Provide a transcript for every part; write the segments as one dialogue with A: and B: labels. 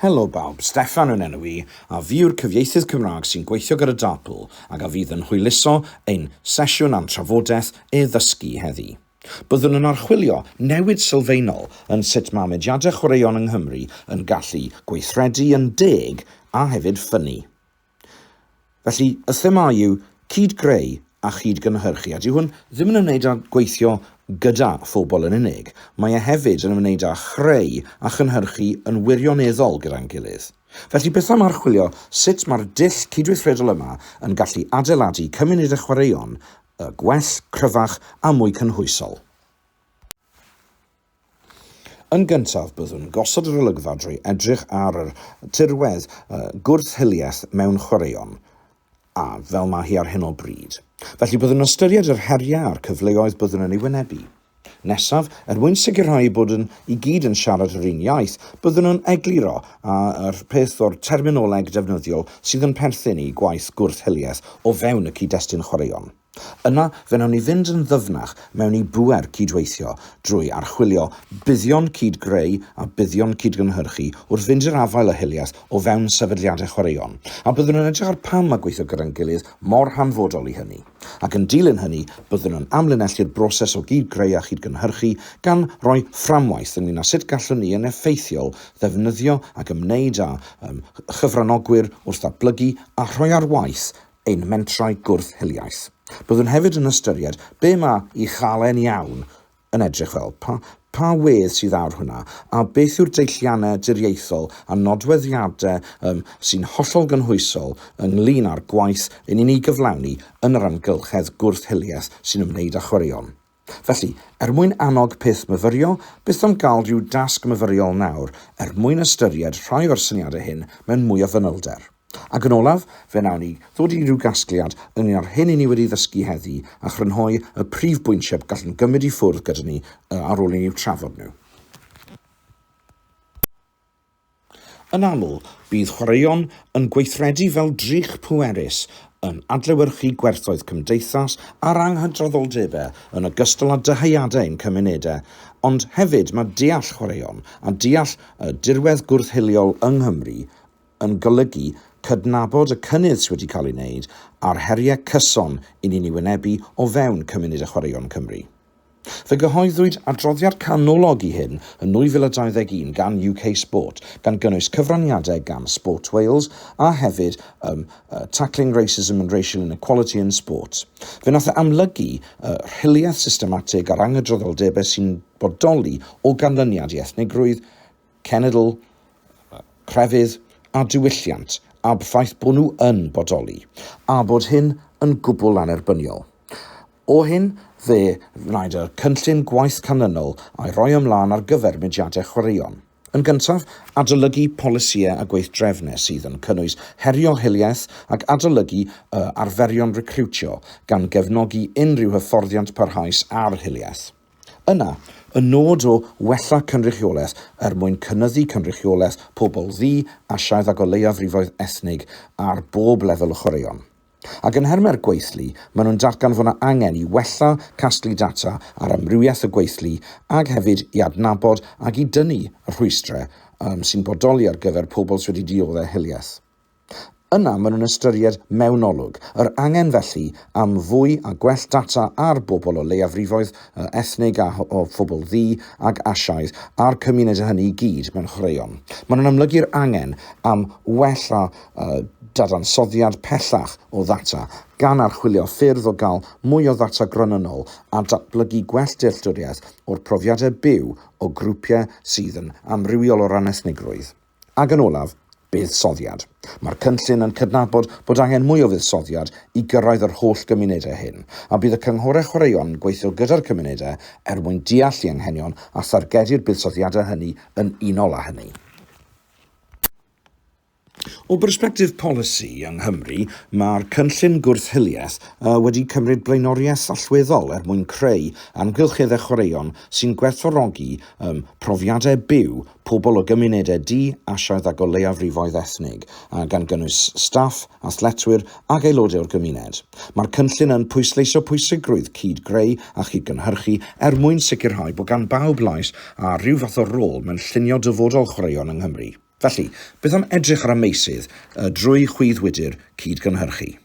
A: Helo bawb, Steffan yw'n enw i, a fi yw'r cyfieithydd Cymraeg sy'n gweithio gyda Darpl ac a fydd yn hwyluso ein sesiwn a'n trafodaeth e-ddysgu heddi. Byddwn yn archwilio newid sylfaenol yn sut mae mudiadau chwaraeon yng Nghymru yn gallu gweithredu yn deg a hefyd ffynnu. Felly, y thema yw cyd-greu a chyd-gynhyrchu, a dyw hwn ddim yn ymwneud â gweithio gyda phobl yn unig, mae e hefyd yn ymwneud â chreu a chynhyrchu yn wirioneddol gyda'n gilydd. Felly, beth am archwilio sut mae'r dull cydweithredol yma yn gallu adeiladu cymunedau chwaraeon gwell, cryfach a mwy cynhwysol? Yn gyntaf, byddwn gosod yr olygfa drwy edrych ar yr tirwedd gwrth-hiliaeth mewn chwaraeon, a fel mae hi ar hyn o bryd. Felly, byddwn yn ystyried yr heriau a'r cyfleoedd byddwn yn ei wynebu. Nesaf, er mwyn sicrhau bod yn i gyd yn siarad yr un iaith, byddwn yn egluro a yw'r peth o'r terminoleg defnyddiol sydd yn perthyn i gwaith gwrth-hiliaeth o fewn y cyd-destun chwaraeon. Yna, fe wnawn ni fynd yn ddyfnach mewn i bŵer cydweithio drwy archwilio buddion cyd-greu a buddion cyd-gynhyrchu wrth fynd i'r afael â hiliaeth o fewn sefydliadau chwaraeon, a byddwn yn edrych ar pam mae gweithio gyda'n gilydd mor hanfodol i hynny. Ac yn dilyn hynny, byddwn yn amlinellu'r broses o gyd-greu a chyd-gynhyrchu, gan roi fframwaith ynglŷn â sut gallwn ni yn effeithiol ddefnyddio ac ymwneud â chyfranogwyr wrth ddatblygu a rhoi ar waith ein mentrau gwrth-hiliaeth. Byddwn hefyd yn ystyried be mae i chael e'n iawn yn edrych fel, pa, pa wedd sydd ar hwnna, a beth yw'r deilliannau diriaethol a nodweddiadau um, sy'n hollol gynhwysol ynglyn â'r gwaith yn ni'n ei gyflawni yn yr amgylchedd gwrth-hiliaeth sy'n ymwneud â chwaraeon. Felly, er mwyn annog peth myfyrio, byth am gael rhyw dasg myfyriol nawr, er mwyn ystyried rhai o'r syniadau hyn mewn mwy o fanylder. Ac yn olaf, fe wnawn ni ddod i ryw gasgliad ynglŷn â'r hyn i ni wedi ddysgu heddi a chrynhoi y prif bwyntiau y gallwn gymryd i ffwrdd gyda ni ar ôl i ni eu trafod nhw. Yn aml, bydd chwaraeon yn gweithredu fel drych pwerus, yn adlewyrchu gwerthoedd cymdeithas a'r anghydraddoldebau yn ogystal â dyheadau ein cymunedau, ond hefyd mae deall chwaraeon a deall y dirwedd gwrth-hiliol yng Nghymru yn golygu cydnabod y cynnydd sydd wedi cael ei wneud a'r heriau cyson i ni'n ei wynebu o fewn cymunedau chwaraeon Cymru. Fe gyhoeddwyd adroddiad canolog i hyn yn 2021 gan UK Sport, gan gynnwys cyfraniadau gan Sport Wales a hefyd ym uh, Tackling Racism and Racial Inequality in Sport. Fe nath e amlygu uh, rhiliaeth systematig a'r angydraddoldebau sy'n bodoli o ganlyniad i ethnigrwydd, cenedl, crefydd a diwylliant a'b ffaith bod nhw yn bodoli, a bod hyn yn gwbl annerbyniol. O hyn, fe wnaed y cynllun gwaith canlynol a'i roi ymlaen ar gyfer mudiadau chwaraeon. Yn gyntaf, adolygu polisïau a gweithdrefnau sydd yn cynnwys herio hiliaeth ac adolygu y arferion recriwtio, gan gefnogi unrhyw hyfforddiant parhaus ar hiliaeth. Yna, y nod o wella cynrychiolaeth er mwyn cynyddu cynrychiolaeth pobl ddu, Asiaidd ac o leiafrifoedd ethnig ar bob lefel y chwaraeon. Ac yn nhermau'r gweithlu, maen nhw'n datgan fod 'na angen i wella casglu data ar amrywiaeth y gweithlu ac hefyd i adnabod ac i dynnu y rhwystrau sy'n bodoli ar gyfer pobl sy wedi dioddef hiliaeth. Yna maen nhw'n ystyried mewnolog, yr angen felly am fwy a gwell data ar bobl o leiafrifoedd, o ethnig a o phobl ddu ac Asiaidd, a'r cymunedau hynny i gyd mewn chwaraeon. Maen nhw'n amlygu'r angen am wella dadansoddiad pellach o ddata, gan archwilio ffyrdd o gael mwy o ddata gronynnol a datblygu gwell dealltwriaeth o'r profiadau byw o grwpiau sydd yn amrywiol o ran ethnigrwydd. Ac yn olaf, buddsoddiad. Mae'r cynllun yn cydnabod bod angen mwy o fuddsoddiad i gyrraedd yr holl gymunedau hyn, a bydd y cynghorau chwaraeon yn gweithio gyda'r cymunedau er mwyn deall eu hanghenion a thargedu'r buddsoddiadau hynny yn unol â hynny. O bersbectif polisi yng Nghymru, mae'r cynllun gwrth-hiliaeth wedi cymryd blaenoriaeth allweddol er mwyn creu amgylcheddau chwaraeon sy'n gwerthfawrogi profiadau byw pobl o gymunedau du, Asiaidd ac o leiafrifoedd ethnig, a gan gynnwys staff, athletwyr ac aelodau o'r gymuned. Mae'r cynllun yn pwysleisio pwysigrwydd cyd-greu a chyd-gynhyrchu er mwyn sicrhau bod gan bawb lais a rhyw fath o rôl mewn llunio dyfodol chwaraeon yng Nghymru. Felly, beth am edrych ar y meysydd y drwy chwyddwydr cyd-gynhyrchu?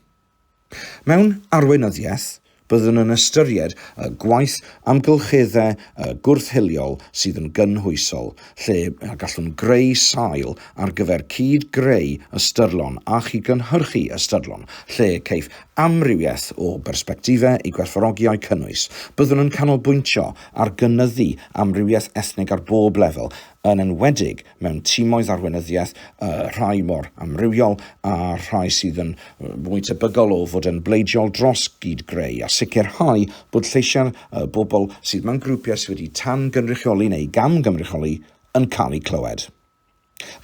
A: Mewn arweinyddiaeth, byddwn yn ystyried y gwaith amgylcheddau a gwrth-hiliol sydd yn gynhwysol, lle y gallwn greu sail ar gyfer cyd-greu ystyrlon a chyd-gynhyrchu ystyrlon, lle caiff amrywiaeth o bersbectifau ei gwerthfawrogi a'u cynnwys. Byddwn yn canolbwyntio ar gynyddu amrywiaeth ethnig ar bob lefel, yn enwedig mewn timoedd arweinyddiaeth, y rhai mor amrywiol a'r rhai sydd yn fwy tebygol o fod yn bleidiol dros gyd-greu, a sicrhau bod lleisiau'r bobl sydd mewn grwpiau sydd wedi tan-gynrychioli neu gam-gynrychioli yn cael eu clywed.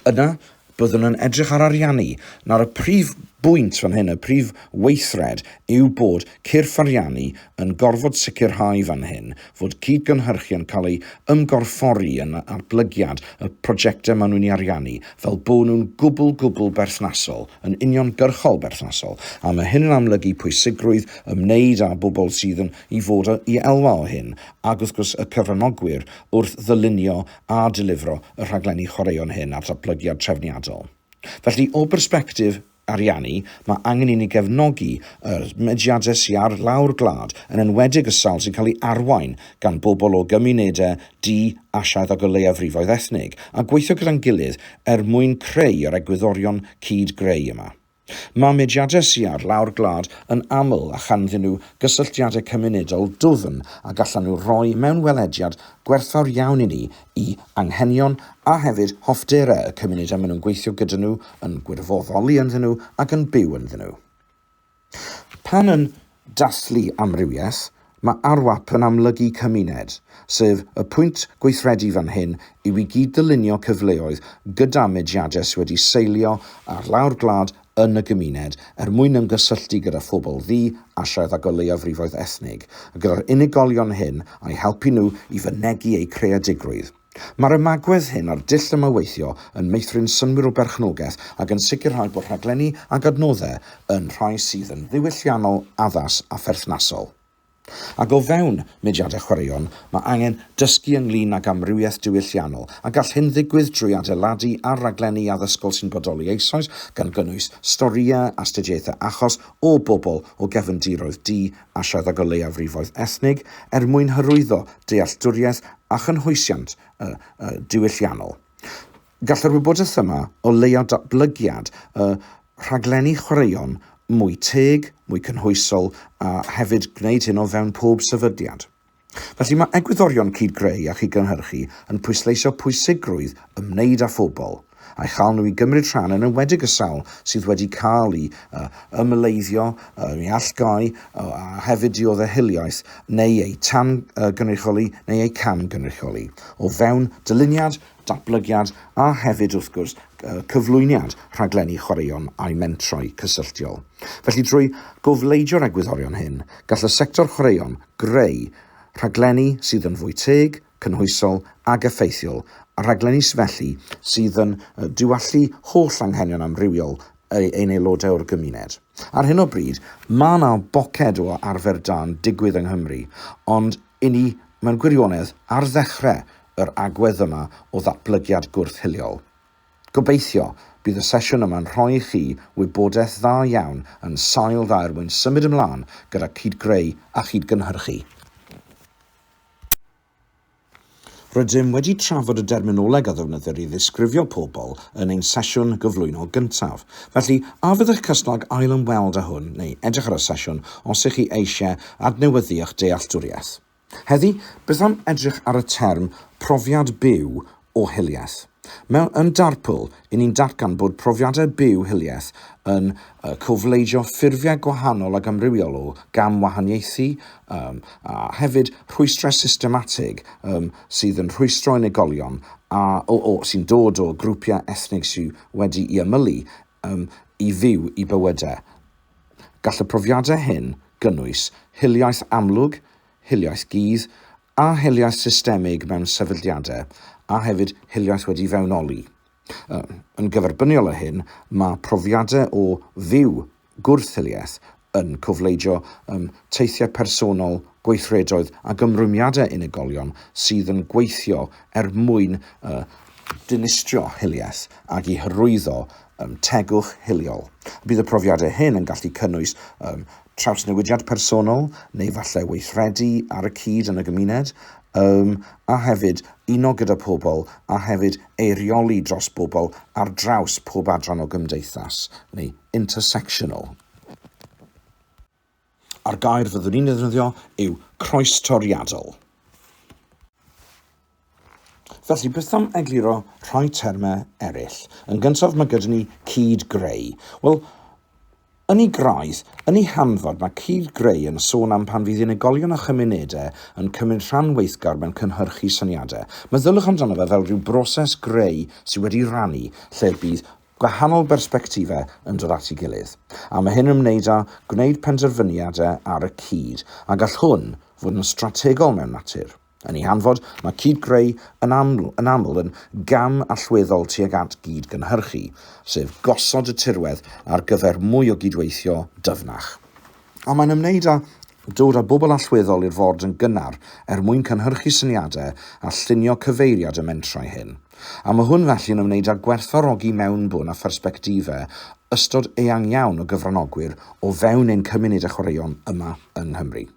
A: Yna, byddwn yn edrych ar ariannu. Nawr, y prif bwynt fan hyn, y prif weithred, yw bod cyrff ariannu yn gorfod sicrhau fan hyn fod cyd-gynhyrchu yn cael ei ymgorffori yn natblygiad y projectau maen nhw'n ei ariannu, fel bod nhw'n gwbl, gwbl berthnasol, yn uniongyrchol berthnasol, a mae hyn yn amlygu pwysigrwydd ymwneud â bobl sydd yn i fod i elwa o hyn, ac wrth gwrs y cyfranogwyr, wrth ddylunio a delifro y rhaglenni chwaraeon hyn a'r datblygiad trefniadol. Felly, o bersbectif. ariannu, mae angen i ni gefnogi y mudiadau sy ar lawr gwlad, yn enwedig y sawl sy'n cael ei arwain gan bobl o gymunedau du, Asiaidd ac o leiafrifoedd ethnig, a gweithio gyda'n gilydd er mwyn creu yr egwyddorion cyd-greu yma. Mae mudiadau sy ar lawr gwlad yn aml â chanddyn nhw gysylltiadau cymunedol dwfn a gallan nhw roi mewn welediad gwerthfawr iawn i ni i anghenion a hefyd hoffterau y cymuned a maen nhw'n gweithio gyda nhw, yn gwirfoddoli ynddyn nhw ac yn byw ynddyn nhw. Pan yn dathlu amrywiaeth, mae ARWAP yn amlygu cymuned, sef y pwynt gweithredu fan hyn yw i gyd-ddylunio cyfleoedd gyda mediadau sydd wedi seilio ar lawr gwlad yn y gymuned er mwyn ymgysylltu gyda phobl ddu, Asiaidd ac o leiafrifoedd ethnig, a gyda'r unigolion hyn a'u helpu nhw i fynegi eu creadigrwydd. Mae'r ymagwedd hyn a'r dull yma o weithio yn meithrin synnwyr o berchnogaeth ac yn sicrhau bod rhaglenni ac adnoddau yn rhai sydd yn ddiwylliannol, addas a pherthnasol. Ac o fewn mudiadau chwaraeon, mae angen dysgu ynglŷn ag amrywiaeth diwylliannol, a gall hyn ddigwydd drwy adeiladu ar raglenni addysgol sy'n bodoli eisoes, gan gynnwys storïau, astudiaethau achos, o bobl o gefndiroedd du, Asiaidd ac o leiafrifoedd ethnig, er mwyn hyrwyddo dealltwriaeth a chynhwysiant y diwylliannol. Gall yr wybodaeth yma o leia datblygiad y rhaglenni chwaraeon mwy teg, mwy cynhwysol a hefyd gwneud hyn o fewn pob sefydliad. Felly mae egwyddorion cyd-greu a chyd-gynhyrchu yn pwysleisio pwysigrwydd ymwneud â phobl, a'i chael nhw i gymryd rhan yn enwedig y sawl sydd wedi cael i ymyleiddio, i allgáu a hefyd diodde hiliaeth neu eu tan-gynrychioli neu eu cam-gynrychioli o fewn dyluniad datblygiad a hefyd, wrth gwrs, cyflwyniad rhaglenni chwaraeon a'u mentrau cysylltiol. Felly, drwy gofleidio'r egwyddorion hyn, gall y sector chwaraeon greu rhaglenni sydd yn fwy teg, cynhwysol ac effeithiol, a rhaglenni felly sydd yn diwallu holl anghenion amrywiol ein aelodau o'r gymuned. Ar hyn o bryd, mae yna boced o arfer da'n digwydd yng Nghymru, ond i ni, mewn gwirionedd, ar ddechrau yr agwedd yma o ddatblygiad gwrth-hiliol. Gobeithio, bydd y sesiwn yma'n rhoi i chi wybodaeth dda iawn yn sail dda er mwyn symud ymlaen gyda cyd-greu a chyd-gynhyrchu. Rydym wedi trafod y derminoleg a ddefnyddir i ddisgrifio pobl yn ein sesiwn gyflwyno gyntaf, felly a fyddech cyson ag ail-ymweld â hwn neu edrych ar y sesiwn os ych chi eisiau adnewyddu eich dealltwriaeth? Heddi, beth am edrych ar y term 'profiad byw o hiliaeth'? Mewn Yn Darpl, i ni'n datgan bod profiadau byw hiliaeth yn cofleidio ffurfiau gwahanol ac amrywiol o gamwahaniaethu a hefyd rhwystrau systematig sydd yn rhwystro unigolion sy'n dod o grwpiau ethnig sydd wedi'i ymylu um, i fyw i bywydau. Gall y profiadau hyn gynnwys hiliaeth amlwg, hiliaeth gudd, a hiliaeth systemig mewn sefydliadau, a hefyd hiliaeth wedi fewnoli. Yn gyferbyniol o hyn, mae profiadau o fyw gwrthhiliaeth yn cofleidio ym teithiau personol, gweithredoedd ac ymrwymiadau unigolion sydd yn gweithio er mwyn y dinistrio hiliaeth ac i hyrwyddo ym tegwch hiliol. Bydd y profiadau hyn yn gallu cynnwys ym trawsnewidiad personol neu falle weithredu ar y cyd yn y gymuned ym a hefyd uno gyda pobl a hefyd eirioli dros bobl ar draws pob adran o gymdeithas neu intersectional. A'r gair fyddwn i'n ddefnyddio yw croestoriadol. Felly, beth am egluro rhai termau eraill? Yn gyntaf, mae gyda ni cyd-greu. Wel, yn ei graidd, yn ei hanfod, mae cyd-greu yn sôn am pan fydd unigolion a chymunedau yn cymryd rhan weithgar mewn cynhyrchu syniadau. Meddyliwch amdano fe fel rhyw broses greu sydd wedi rannu, lle bydd gwahanol bersbectifau yn dod at ei gilydd, a mae hyn yn ymwneud â gwneud penderfyniadau ar y cyd, a gall hwn fod yn strategol mewn natur. Yn ei hanfod, mae cyd-greu yn aml yn aml yn gam allweddol tuag at gyd-gynhyrchu, sef gosod y tirwedd ar gyfer mwy o gydweithio dyfnach. A mae'n ymwneud â dod â bobl allweddol i'r ford yn gynnar er mwyn cynhyrchu syniadau a llunio cyfeiriad y mentrau hyn. A mae hwn felly yn ymwneud â gwerthfawrogi mewnbwn a phersbectifau ystod eang iawn o gyfranogwyr o fewn ein cymuned a chwaraeon yma yng Nghymru.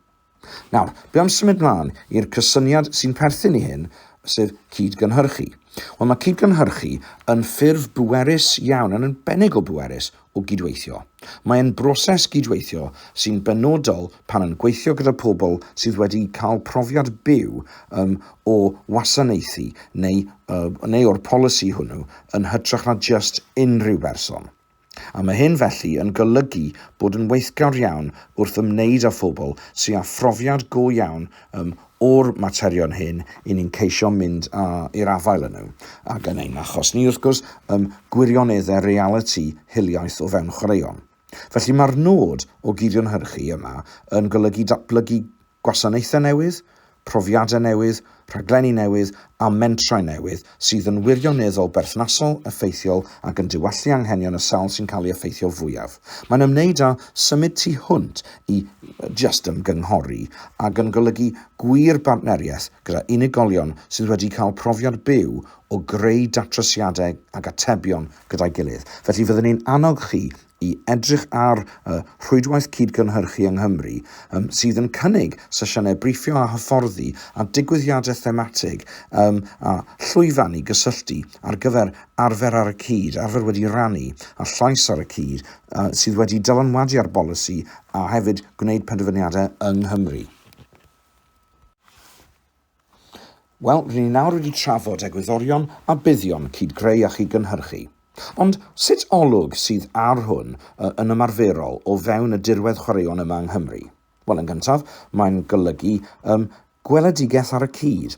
A: Nawr, be am symud mlaen i'r cysyniad sy'n perthyn i hyn, sef cyd-gynhyrchu. Wel, mae cyd-gynhyrchu yn ffurf bwerus iawn, yn arbennig o bwerus, o gydweithio. Mae'n broses gydweithio sy'n benodol pan yn gweithio gyda pobl sydd wedi cael profiad byw um, o wasanaethu neu, uh, neu o'r polisi hwnnw yn hytrach na just unrhyw berson. A mae hyn felly yn golygu bod yn weithgawr iawn wrth ymwneud â phobl sy'n â phrofiad go iawn um, o'r materion hyn i ni'n ceisio mynd â i'r afael â nhw, ac yn ein achos ni, wrth gwrs, ym gwirioneddau realiti hiliaeth o fewn chwaraeon. Felly, mae'r nod o gydionhyrchu yma yn golygu datblygu gwasanaethau newydd, profiadau newydd, rhaglenni newydd a mentrau newydd sydd yn wirioneddol berthnasol, effeithiol ac yn diwallu anghenion y sawl sy'n cael ei effeithio fwyaf. Mae'n ymwneud â symud tu hwnt i just ymgynghori ac yn golygu gwir bartneriaeth gyda unigolion sydd wedi cael profiad byw o greu datrysiadau ac atebion gyda'i gilydd. Felly, fyddwn ni'n annog chi i edrych ar y Rhwydwaith Cyd-gynhyrchu yng Nghymru, ym, sydd yn cynnig sesiynau briffio a hyfforddi a digwyddiadau thematig ym, a llwyfan i gysylltu ar gyfer arfer ar y cyd, arfer wedi rannu, a llais ar y cyd, a, sydd wedi dylanwadu ar bolisi a hefyd gwneud penderfyniadau yng Nghymru. Wel, rŷn ni nawr wedi trafod egwyddorion a buddion cyd-greu a chyd-gynhyrchu. Ond sut olwg sydd ar hwn yn ymarferol o fewn y dirwedd chwaraeon yma yng Nghymru? Wel, yn gyntaf, mae'n golygu ym gweledigaeth ar y cyd.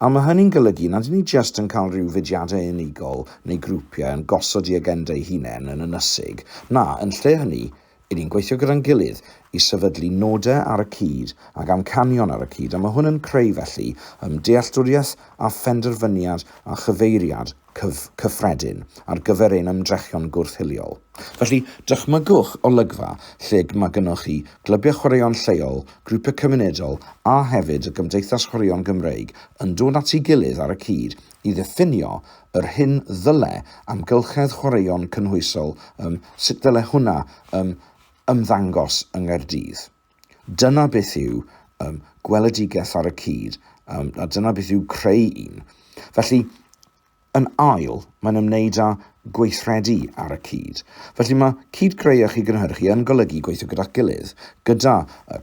A: A mae hynny'n golygu nad y'n ni jyst yn cael rhyw fudiadau unigol neu grwpiau yn gosod eu agenda eu hunain yn ynysig. Na, yn lle hynny, Y'n ni'n gweithio gyda'n gilydd i sefydlu nodau ar y cyd ac amcanion ar y cyd, a mae hwn yn creu, felly, ymdealltwriaeth a phenderfyniad a chyfeiriad cyf, cyffredin ar gyfer ein ymdrechion gwrth-hiliol. Felly, dychmygwch olygfa lle mae gynnoch chi glybiau chwaraeon lleol, grwpiau cymunedol a hefyd y Gymdeithas Chwaraeon Gymreig yn dod at ei gilydd ar y cyd i ddiffinio yr hyn ddyle amgylchedd chwaraeon cynhwysol ym, sut ddyle hwnna ym, ymddangos yng Nghaerdydd. Dyna beth yw ym, gweledigaeth ar y cyd, ym, a dyna beth yw creu un. Felly, yn ail, mae'n ymwneud â gweithredu ar y cyd. Felly mae cyd-greu a chyd-gynhyrchu yn golygu gweithio gyda'ch gilydd, gyda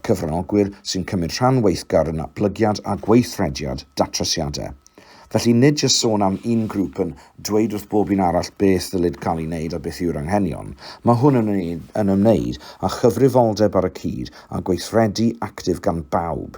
A: cyfranogwyr sy'n cymryd rhan weithgar yn natblygiad a gweithrediad datrysiadau. Felly, nid jyst sôn am un grŵp yn dweud wrth bob un arall beth ddylid cael ei wneud a beth yw'r anghenion, mae hwn yn yn ymwneud â chyfrifoldeb ar y cyd a gweithredu actif gan bawb.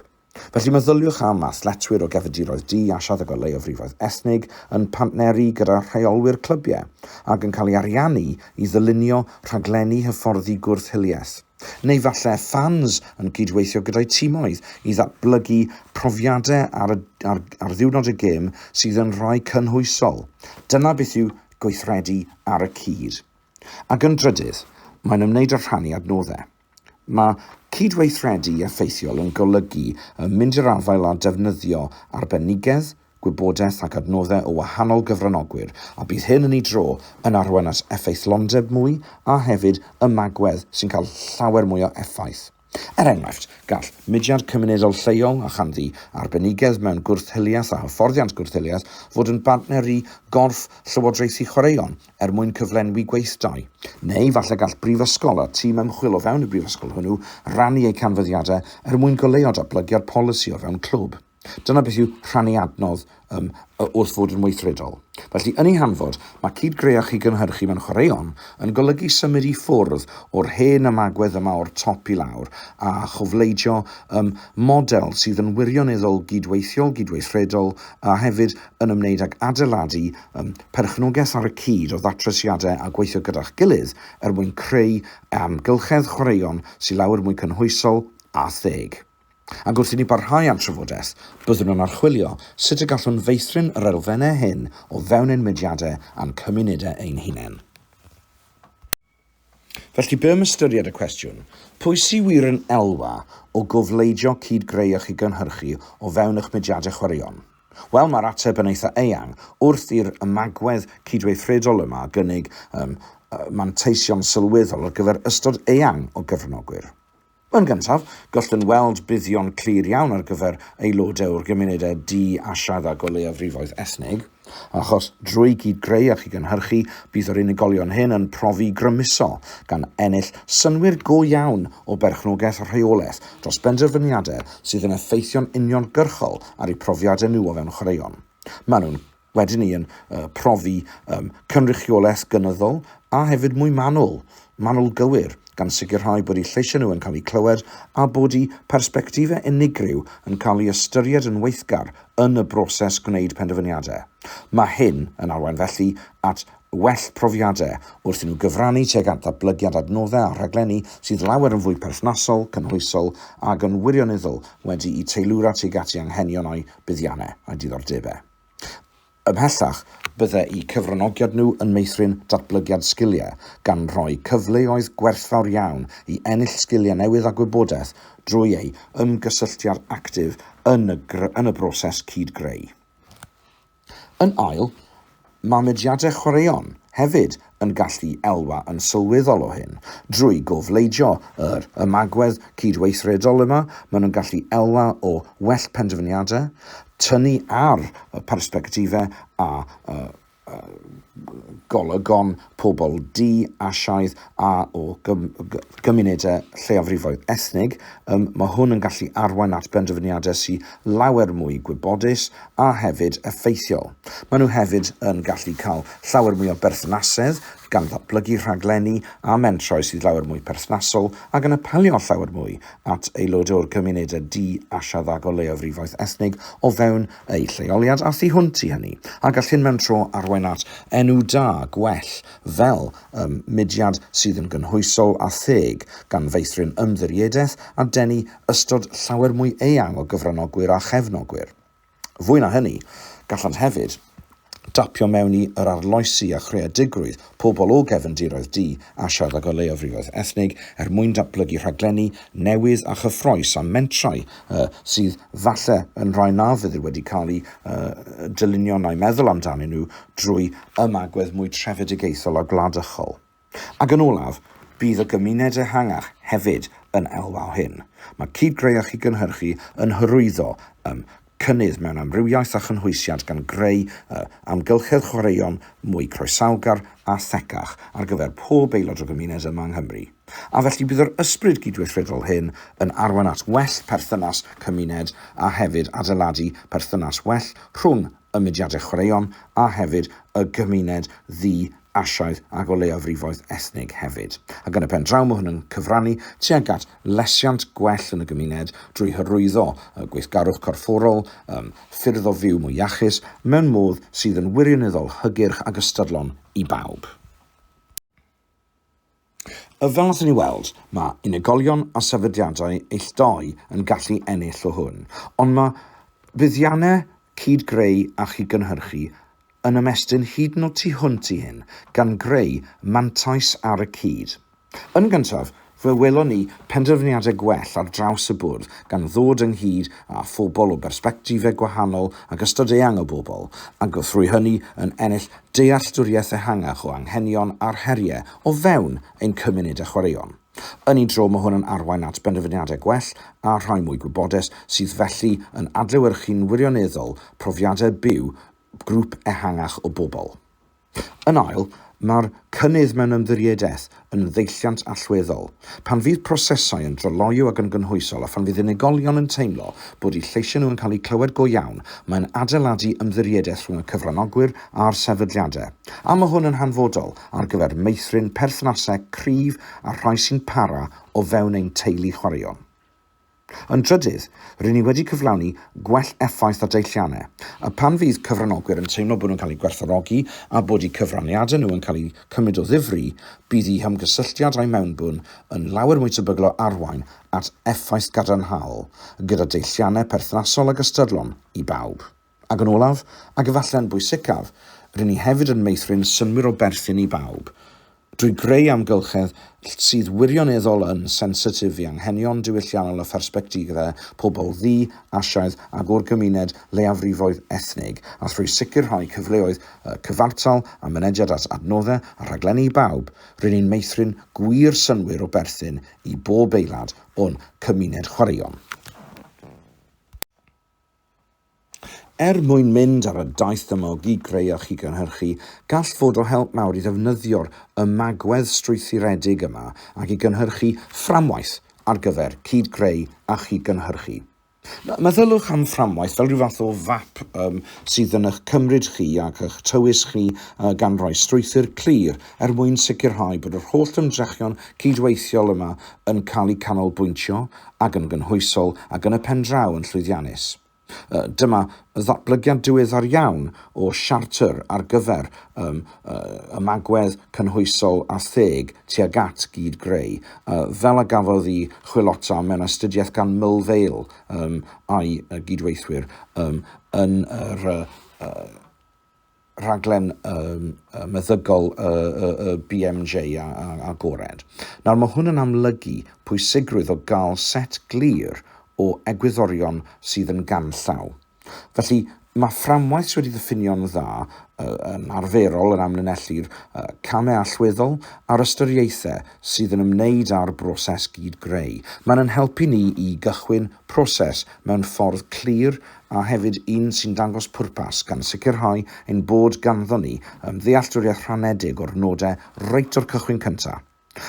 A: Felly, meddyliwch am athletwyr o gefndiroedd di-asiad ac o leiafrifoedd ethnig yn partneru gyda rheolwyr clybiau ac yn cael ei ariannu i ddylunio rhaglenni hyfforddi gwrth-hiliaeth. Neu falle ffans yn cydweithio gyda'u timoedd i ddatblygu profiadau ar, y, ar, ar ddiwrnod y gêm sydd yn rhai cynhwysol. Dyna beth yw gweithredu ar y cyd. Ac yn drydydd, mae'n ymwneud â rhannu adnoddau. Mae cydweithredu effeithiol yn golygu yn mynd i'r afael â defnyddio arbenigedd, gwybodaeth ac adnoddau o wahanol gyfranogwyr, a bydd hyn yn ei dro yn arwain at effeithlondeb mwy a hefyd ymagwedd sy'n cael llawer mwy o effaith. Er enghraifft, gall mudiad cymunedol lleol a chanddi arbenigedd mewn gwrth-hiliaeth a hyfforddiant gwrth-hiliaeth fod yn bartner i gorff llywodraethu chwaraeon er mwyn cyflenwi gweithdai. Neu falle gall brifysgol a tîm ymchwil o fewn y brifysgol hwnnw rannu eu canfyddiadau er mwyn goleuo datblygiad polisi o fewn clwb. Dyna beth yw rhannu adnodd um, wrth fod yn weithredol. Felly, yn ei hanfod, mae cyd-greach i gynhyrchu mewn chwaraeon yn golygu symud i ffwrdd o'r hen ymagwedd yma o'r top i lawr a chofleidio um, model sydd yn wirioneddol gydweithiol, gydweithredol a hefyd yn ymwneud ag adeiladu um, perchnogaeth ar y cyd o ddatrisiadau a gweithio gyda'ch gilydd er mwyn creu amgylchedd chwaraeon sy'n lawer mwy cynhwysol a theg. Ac wrth i ni barhau â'n trafodaeth, byddwn yn archwilio sut y gallwn feithrin yr elfennau hyn o fewn ein mudiadau a'n cymunedau ein hunain. Felly, be am ystyried y cwestiwn, pwy sydd wir yn elwa o gofleidio cyd-greu a chyd-gynhyrchu o fewn eich mudiadau chwaraeon? Wel, mae'r ateb yn eitha eang, wrth i'r ymagwedd cydweithredol yma gynnig um, manteision sylweddol ar gyfer ystod eang o gyfranogwyr. Yn gyntaf, gallwn weld buddion clir iawn ar gyfer aelodau o'r gymunedau di-asiad ac o leiafrifoedd ethnig, achos drwy gyd-greu a chyd-gynhyrchu, bydd yr unigolion hyn yn profi grymuso, gan ennill synnwyr go iawn o berchnogaeth a rheolaeth dros benderfyniadau sydd yn effeithio'n uniongyrchol ar eu profiadau nhw o fewn chwaraeon. Maen nhw'n Wedyn ni yn uh, profi um, cynrychiolaeth gynyddol a hefyd mwy manwl, manwl gywir, gan sicrhau bod eu lleisiau nhw yn cael eu clywed a bod eu persbectifau unigryw yn cael eu ystyried yn weithgar yn y broses gwneud penderfyniadau. Mae hyn yn arwain felly at well profiadau wrth i nhw gyfrannu tuag at ddatblygiad adnoddau a rhaglenni sydd lawer yn fwy perthnasol, cynhwysol ac yn wirionyddol wedi'u teilwra tuag at eu anghenion a'u buddiannau a'u diddordebau. Ymhellach, byddai'u cyfranogiad nhw yn meithrin datblygiad sgiliau, gan roi cyfleoedd gwerthfawr iawn i ennill sgiliau newydd a gwybodaeth drwy eu hymgysylltiad actif yn y yn y broses cyd-greu. Yn ail, mae mudiadau chwaraeon hefyd yn gallu elwa yn sylweddol o hyn. Drwy gofleidio yr ymagwedd cydweithredol yma, maen nhw'n gallu elwa o well penderfyniadau, tynnu ar y persbectifau a golygon pobl du, Asiaidd a o gymunedau lleiafrifoedd ethnig. Mae hwn yn gallu arwain at benderfyniadau sy'n lawer mwy gwybodus a hefyd effeithiol. Maen nhw hefyd yn gallu cael llawer mwy o berthnasedd, gan ddatblygu rhaglenni a mentrau sydd lawer mwy perthnasol ac yn apelio llawer mwy at aelod o'r cymunedau du a siaddag o leiafrifoedd ethnig o fewn eu lleoliad a thu hwnt i hynny, a gall hyn mewn tro arwain at enw da, gwell, fel ym mudiad sydd yn gynhwysol a theg, gan feithrin ymddiriedaeth a denu ystod llawer mwy eang o gyfranogwyr a chefnogwyr. Fwy na hynny, gallant hefyd dapio mewn i yr arloesi a chreadigrwydd pobl o gefndiroedd du a siarad o leiafrifoedd ethnig er mwyn datblygu rhaglenni newydd a chyffroes a mentrau uh, sydd falle yn rhai na fydd wedi cael eu uh, dylunio na'i meddwl amdanyn nhw drwy ymagwedd mwy trefedigaethol a gwladychol. Ac yn olaf, bydd y gymuned ehangach hefyd yn elwa o hyn. Mae cyd-greu a chyd-gynhyrchu yn hyrwyddo ym cynnydd mewn amrywiaeth a chynhwysiad gan greu y amgylchedd chwaraeon mwy croesawgar a thecach ar gyfer pob aelod o gymuned yma yng Nghymru. A felly bydd yr ysbryd gydweithredol hyn yn arwain at well perthynas cymuned a hefyd adeiladu perthynas well rhwng y mudiadau chwaraeon a hefyd y gymuned ddi Asiaidd ac o leiafrifoedd ethnig hefyd, ac yn y pen draw mae hwn yn cyfrannu tuag at lesiant gwell yn y gymuned drwy hyrwyddo y gweithgarwch corfforol yn ffyrdd o fyw mwy iachus mewn modd sydd yn wirioneddol hygyrch ac ystadlon i bawb. A fel allwn ni weld, mae unigolion a sefydliadau eilltu yn gallu ennill o hwn, ond mae buddiannau cyd-greu a chyd-gynhyrchu yn ymestyn hyd yn oed tu hwnt i hyn, gan greu mantais ar y cyd. Yn gyntaf, fe welon ni penderfyniadau gwell ar draws y bwrdd, gan ddod ynghyd â phobl o bersbectifau gwahanol ac ystod eang o bobl, a thrwy hynny yn ennill dealltwriaeth ehangach o anghenion a'r heriau o fewn ein cymuned a chwaraeon. Yn un tro, mae hwn yn arwain at benderfyniadau gwell a rhai mwy gwybodus, sydd felly yn adlewyrchu'n wirioneddol profiadau byw grŵp ehangach o bobl. Yn ail, mae'r cynnydd mewn ymddiriedaeth yn ddeilliant allweddol, pan fydd prosesau yn dryloyw ac yn gynhwysol a phan fydd unigolion yn teimlo bod eu lleisiau nhw yn cael eu clywed go iawn, mae'n adeiladu ymddiriedaeth rhwng y cyfranogwyr a'r sefydliadau. A mae hwn yn hanfodol ar gyfer meithrin perthnasau cryf â'r rhai sy'n para o fewn ein teulu chwaraeon. Yn drydydd, rŷn ni wedi cyflawni gwell effaith ar deilliannau, a phan fydd cyfranogwyr yn teimlo bod nhw'n cael eu gwerthfawrogi a bod eu cyfraniadau nhw yn cael eu cymryd o ddifri, bydd eu hymgysylltiad a'u mewnbwn yn lawer mwy tebygol o arwain at effaith gadarnhaol, gyda deilliannau perthnasol ac ystyrlon i bawb. Ac yn olaf, ac efallai yn bwysicaf, ry'n ni hefyd yn meithrin synnwyr o berthyn i bawb, drwy greu amgylchedd sydd wirioneddol yn sensitif i anghenion diwylliannol a phersbectifau pobl ddu, Asiaidd ac o'r gymuned leiafrifoedd ethnig, a thrwy sicrhau cyfleoedd cyfartal a mynediad at adnoddau a rhaglenni i bawb, ry'n ni'n meithrin gwir synnwyr o berthyn i bob aelad o'n cymuned chwaraeon. Er mwyn mynd ar y daith dymog i greu a chyd-gynhyrchu, gall fod o help mawr i ddefnyddio'r ymagwedd strwythuredig yma ac i gynhyrchu fframwaith ar gyfer cyd-greu a chyd-gynhyrchu. Meddyliwch am fframwaith fel rhyw fath o fap sydd yn eich cymryd chi ac eich tywys chi gan roi strwythur clir er mwyn sicrhau bod yr holl ymdrechion cydweithiol yma yn cael eu canolbwyntio ac yn gynhwysol ac yn y pen draw yn llwyddiannus. Yy, dyma ddatblygiad diweddar iawn o siartr ar gyfer um, ymagwedd cynhwysol a theg tuag at gyd greu, uh, fel a gafodd i chwilota mewn astudiaeth gan Mill Vale um, a'i gydweithwyr um, yn yr uh, rhaglen um, meddygol y, y, y BMJ a, a, agored. Nawr mae hwn yn amlygu pwysigrwydd o gael set glir o egwyddorion sydd yn ganllaw. Felly, mae fframwaith sydd wedi ddiffinio'n dda yn arferol yn amlinellu'r camau allweddol a'r ystyriaethau sydd yn ymwneud â'r broses gyd greu. Mae'n yn helpu ni i gychwyn proses mewn ffordd clir a hefyd un sy'n dangos pwrpas gan sicrhau ein bod ganddon ni yn ddealltwriaeth rhanedig o'r nodau reit o'r cychwyn cyntaf.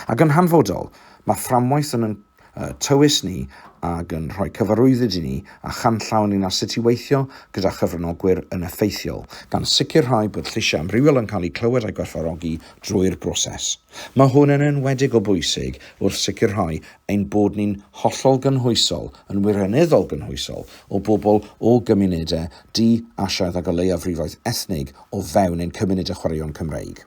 A: Ac yn hanfodol, mae fframwaith yn ein tywys ni ac yn rhoi cyfarwyddyd i ni a chanllaw ynglŷn â sut i weithio gyda chyfranogwyr yn effeithiol, gan sicrhau bod lleisiau amrywiol yn cael eu clywed a'u gwerthfawrogi drwy'r broses. Mae hwn yn enwedig o bwysig wrth sicrhau ein bod ni'n hollol gynhwysol, yn wirioneddol gynhwysol, o bobl o gymunedau di-Asiaidd ag o leiafrifoedd ethnig o fewn ein cymunedau chwaraeon Cymreig.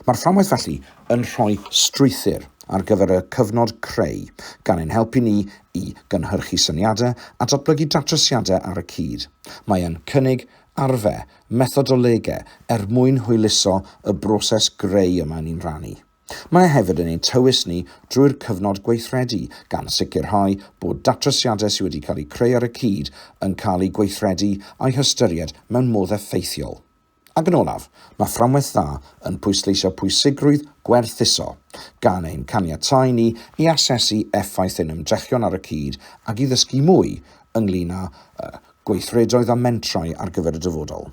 A: Mae'r fframwaith felly yn rhoi strwythur ar gyfer y cyfnod creu, gan ein helpu ni i gynhyrchu syniadau a datblygu datrysiadau ar y cyd. Mae yn cynnig arfau, methodolegau, er mwyn hwyluso y broses greu y maen ni'n rhannu. Mae hefyd yn ein tywys ni drwy'r cyfnod gweithredu, gan sicrhau bod datrysiadau sydd wedi cael eu creu ar y cyd yn cael eu gweithredu a'u hystyried mewn modd effeithiol. Ac yn olaf, mae fframwaith dda yn pwysleisio pwysigrwydd gwerthuso, gan ein caniatáu ni i asesu effaith ein ymdrechion ar y cyd ac i ddysgu mwy ynglŷn â gweithredoedd a mentrau ar gyfer y dyfodol.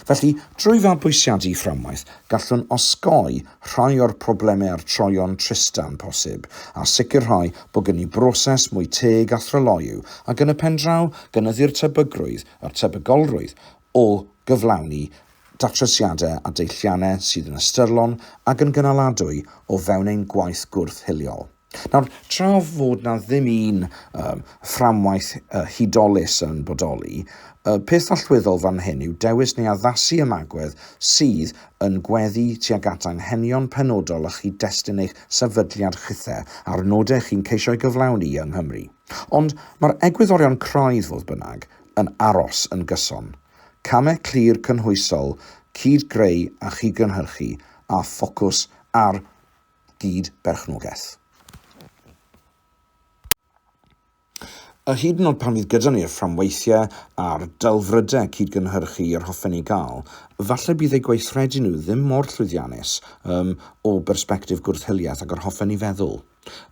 A: Felly, drwy fabwysiadu fframwaith, gallwn osgoi rhai o'r problemau a'r troeon tristau'n posib, a sicrhau bod gen i broses mwy teg a thryloyw, ac yn y pen draw, gynyddu'r tebygrwydd, a'r tebygolrwydd, o gyflawni datrysiadau a deilliannau sydd yn ystyrlon ac yn gynaladwy o fewn ein gwaith gwrth-hiliol. Nawr, tra fod na ddim un um, fframwaith uh, hudolus yn bodoli, y peth allweddol fan hyn yw dewis neu addasu ymagwedd sydd yn gweddu tuag at anghenion penodol a chyd-destun eich sefydliad chithe a'r nodau chi'n ceisio ei gyflawni yng Nghymru. Ond mae'r egwyddorion craidd, fodd bynnag, yn aros yn gyson. Camau clir cynhwysol, cyd-greu a chyd-gynhyrchu, a ffocws ar gyd-berchnogaeth. A hyd yn oed pan fydd gyda ni'r fframweithiau a'r delfrydau cyd-gynhyrchu yr hoffen eu gael, falle bydd eu gweithredu nhw ddim mor llwyddiannus um, o bersbectif gwrth-hiliaeth ag yr hoffen ni feddwl.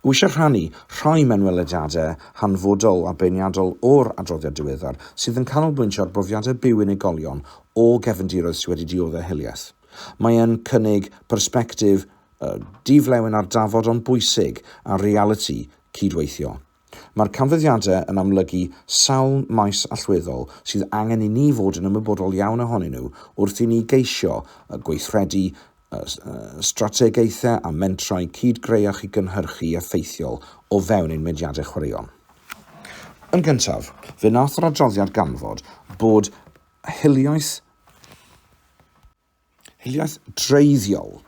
A: Wi eisiau rhannu rhai mewnwelediadau hanfodol a beirniadol o'r adroddiad diweddar sydd yn canolbwyntio ar brofiadau byw unigolion o gefndiroedd sydd wedi dioddef hiliaeth. Mae'n cynnig persbectif di-flewyn ar dafod ond bwysig a realiti cyd-weithio. Mae'r canfyddiadau yn amlygu sawl maes allweddol sydd angen i ni fod yn ymwybodol iawn ohonyn nhw wrth i ni geisio gweithredu strategaethau a mentrau cyd-greu a chydgynhyrchu effeithiol o fewn ein mudiadau chwaraeon. Yn gyntaf, fe wnaeth yr adroddiad ganfod bod hiliaeth hiliaeth dreiddiol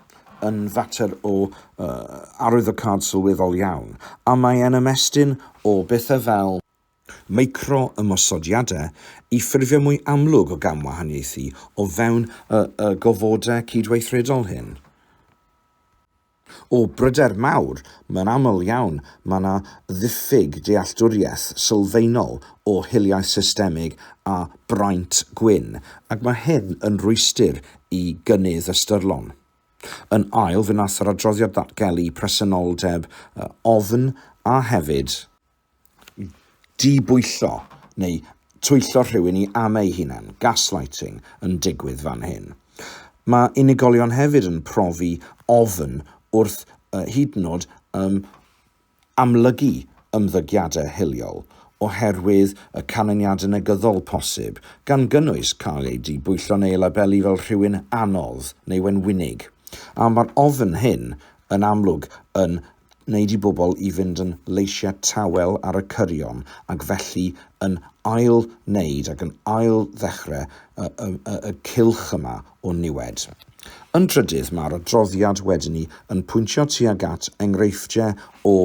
A: yn fater o uh, arwyddocâd sylweddol iawn, a mae e'n ymestyn o bethau fel micro ymosodiadau i ffurfio mwy amlwg o gamwahaniaethu o fewn y, y gofodau cydweithredol hyn. O bryder mawr, mae'n aml iawn mae yna ddiffyg dealltwriaeth sylfaenol o hiliaeth systemig a braint gwyn, ac mae hyn yn rwystr i gynnydd ystyrlon. Yn ail, fe wnaeth yr adroddiad ddatgelu presenoldeb ofn a hefyd, dibwyllo neu twyllo rhywun i am eu hunain, gaslighting, yn digwydd fan hyn. Mae unigolion hefyd yn profi ofn wrth hyd yn oed um, amlygu ymddygiadau hiliol oherwydd y canlyniadau negyddol posib, gan gynnwys cael eu dibwyllo neu eu labelu fel rhywun anodd neu wenwynig. A mae'r ofn hyn yn amlwg yn wneud i bobl i fynd yn leisiau tawel ar y cyrion ac felly yn ail-wneud ac yn ail-ddechrau y, y, y, y cylch yma o niwed. Yn drydydd, mae'r adroddiad wedyn ni yn pwyntio tuag at enghreifftiau o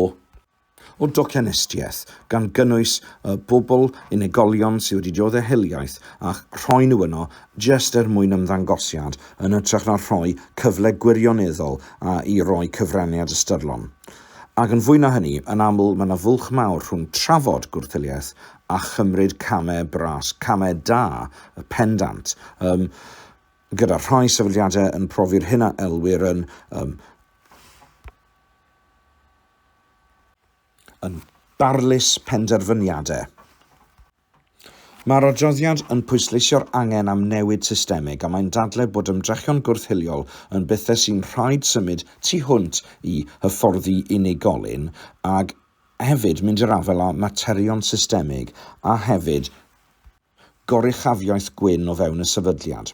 A: o docenestiaeth, gan gynnwys y bobl, unigolion sydd wedi dioddef hiliaeth a'ch rhoi nhw yno jyst er mwyn ymddangosiad, yn hytrach na rhoi cyfle gwirioneddol i roi cyfraniad ystyrlon. Ac yn fwy na hynny, yn aml, mae 'na fwlch mawr rhwng trafod gwrthiliaeth a chymryd camau bras, camau da, y pendant, yym, gyda rhai sefydliadau yn profi'r hyn a elwir yn, yym, yn barlys penderfyniadau. Mae'r adroddiad yn pwysleisio'r angen am newid systemig a mae'n dadlau bod ymdrechion gwrth-hiliol yn bethau sy'n rhaid symud tu hwnt i hyfforddi unigolyn ac hefyd mynd i'r afael â materion systemig a hefyd goruchafiaeth gwyn o fewn y sefydliad.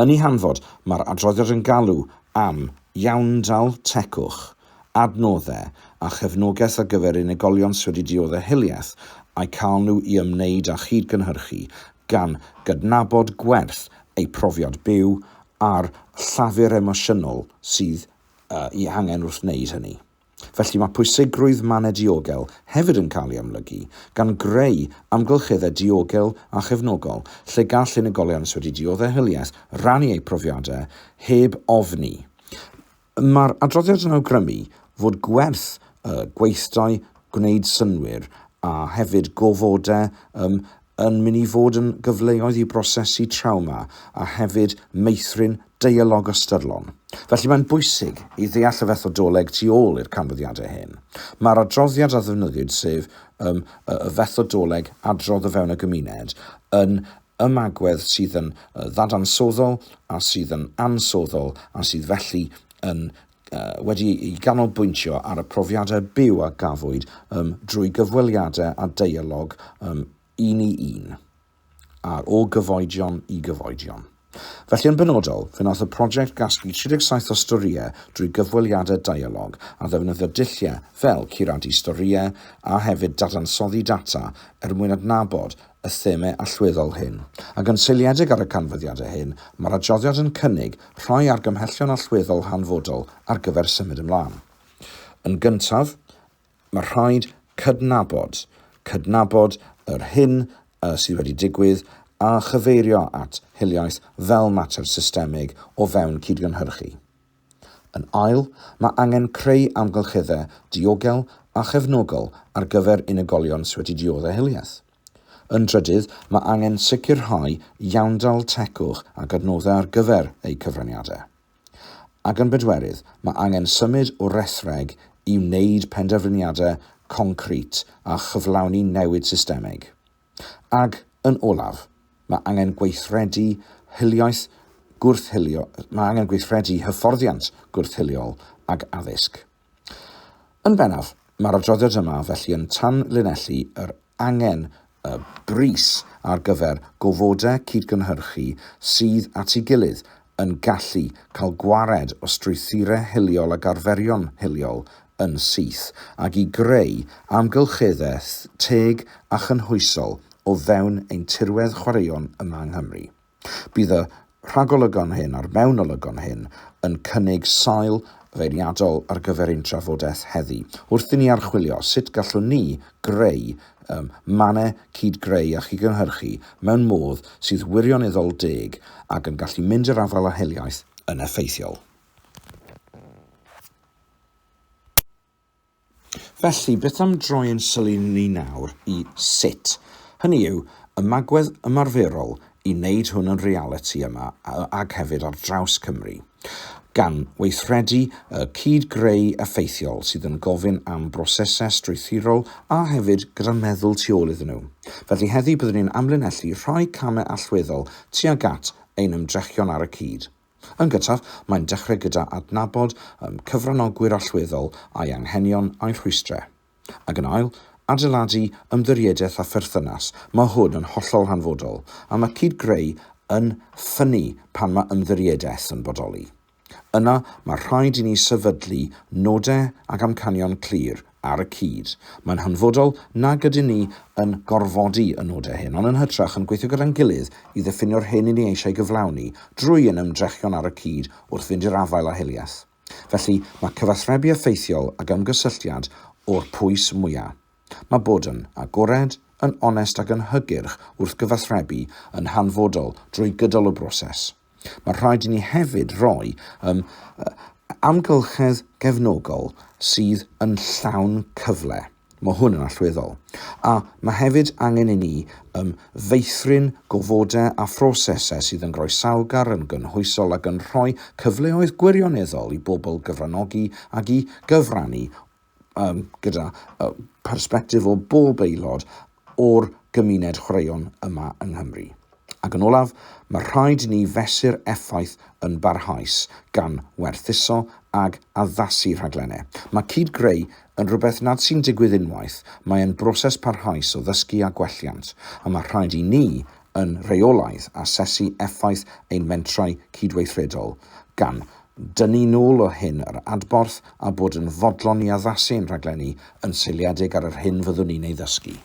A: Yn ei hanfod, mae'r adroddiad yn galw am iawndal tegwch, adnoddau a chefnogaeth ar gyfer unigolion sydd wedi dioddef hiliaeth a'u cael nhw i ymwneud â chyd-gynhyrchu, gan gydnabod gwerth eu profiad byw a'r llafur emosiynol sydd eu hangen wrth wneud hynny. Felly mae pwysigrwydd mannau diogel hefyd yn cael ei amlygu, gan greu amgylcheddau diogel a chefnogol lle gall unigolion sy wedi dioddef hiliaeth rannu eu profiadau heb ofni. Mae'r adroddiad yn awgrymu fod gwerth y gweithdai gwneud synnwyr a hefyd gofodau yn mynd i fod yn gyfleoedd i brosesu trawma a hefyd meithrin deialog ystyrlon. Felly mae'n bwysig i ddeall y fethodoleg tu ôl i'r canfyddiadau hyn. Mae'r adroddiad a ddefnyddiwyd, sef ym, y, y fethodoleg adrodd o fewn y gymuned, yn ymagwedd sydd yn ddadansoddoll a sydd yn ansoddol a sydd felly yn wedi'i ganolbwyntio ar y profiadau byw a gafwyd um, drwy gyfweliadau a deialog um, un i un, a'r o gyfoedion i gyfoedion. Felly yn benodol, fe wnaeth y prosiect gasglu 37 o storïau drwy gyfweliadau deialog a ddefnyddio dulliau fel curadu storïau a hefyd dadansoddi data er mwyn adnabod y themâu allweddol hyn, ac yn seiliedig ar y canfyddiadau hyn, mae'r adroddiad yn cynnig rhai argymhellion allweddol hanfodol ar gyfer symud ymlaen. Yn gyntaf, mae rhaid cydnabod, cydnabod yr hyn y sydd wedi digwydd a chyfeirio at hiliaeth fel mater systemig o fewn cydgynhyrchu. Yn ail, mae angen creu amgylcheddau diogel a chefnogol ar gyfer unigolion sy wedi diodde' hiliaeth. Yn drydydd, mae angen sicrhau iawndal tegwch ac adnoddau ar gyfer eu cyfraniadau. Ac yn bedwerydd, mae angen symud o rethreg i wneud penderfyniadau concrit a chyflawni newid systemig. Ac, yn olaf, mae angen gweithredu hiliaeth gwrth-hilio, mae angen gweithredu hyfforddiant gwrth-hiliol ac addysg. Yn bennaf, mae'r adroddiad yma felly yn tanlinellu yr angen y brys ar gyfer gofodau cydgynhyrchu sydd at ei gilydd yn gallu cael gwared o strwythurau hiliol ac arferion hiliol yn syth, ac i greu amgylcheddau teg a chynhwysol o fewn ein tirwedd chwaraeon yma yng Nghymru. Bydd y rhagolygon hyn a'r mewnolygon hyn yn cynnig sail feirniadol ar gyfer ein trafodaeth heddi, wrth i ni archwilio sut gallwn ni greu ym mannau cyd-greu a chyd-gynhyrchu mewn modd sydd wirioneddol deg ac yn gallu mynd i'r afael â hiliaeth yn effeithiol. Felly, beth am droi ein sylw ni nawr i sut, hynny yw, ymagwedd ymarferol i wneud hwn yn realiti yma ac hefyd ar draws Cymru. gan weithredu y cyd-greu effeithiol sydd yn gofyn am brosesau strwythurol a hefyd gyda meddwl tu ôl iddyn nhw. Felly heddiw byddwn ni'n amlinellu rhai camau allweddol tuag at ein ymdrechion ar y cyd. Yn gyntaf, mae'n dechrau gyda adnabod ein cyfranogwyr allweddol, a'u hanghenion a'u rhwystrau. Ac yn ail, adeiladu ymddiriedaeth a pherthynas. Mae hwn yn hollol hanfodol, a mae cyd-greu yn ffynnu pan mae ymddiriedaeth yn bodoli. Yna, mae rhaid i ni sefydlu nodau ac amcanion clir ar y cyd. Mae'n hanfodol nag ydyn ni yn gorfodi y nodau hyn, ond yn hytrach yn gweithio gyda'n gilydd i ddiffinio'r hyn i ni eisiau gyflawni, drwy ein ymdrechion ar y cyd wrth fynd i'r afael â hiliaeth. Felly, mae cyfathrebu effeithiol ac ymgysylltiad o'r pwys mwyaf. Mae bod yn agored, yn onest ac yn hygyrch wrth gyfathrebu yn hanfodol drwy gydol y broses. Mae rhaid i ni hefyd roi ym amgylchedd gefnogol sydd yn llawn cyfle. Mae hwn yn allweddol. A mae hefyd angen i ni ym feithrin gofodau a phrosesau sydd yn groesawgar, yn gynhwysol ac yn rhoi cyfleoedd gwirioneddol i bobl gyfranogi ac i gyfrannu gyda phersbectif o bob aelod o'r gymuned chwaraeon yma yng Nghymru. Ac yn olaf, mae rhaid i ni fesur effaith yn barhaus, gan werthuso ac addasu rhaglennau. Mae cyd-greu yn rhywbeth nad sy'n digwydd unwaith, mae e'n broses parhaus o ddysgu a gwelliant, a mae rhaid i ni yn rheolaidd asesu effaith ein mentrau cydweithredol, gan dynnu'n ôl o hyn yr adborth a bod yn fodlon i addasu ein rhaglenni yn seiliedig ar yr hyn fyddwn ni'n ei ddysgu.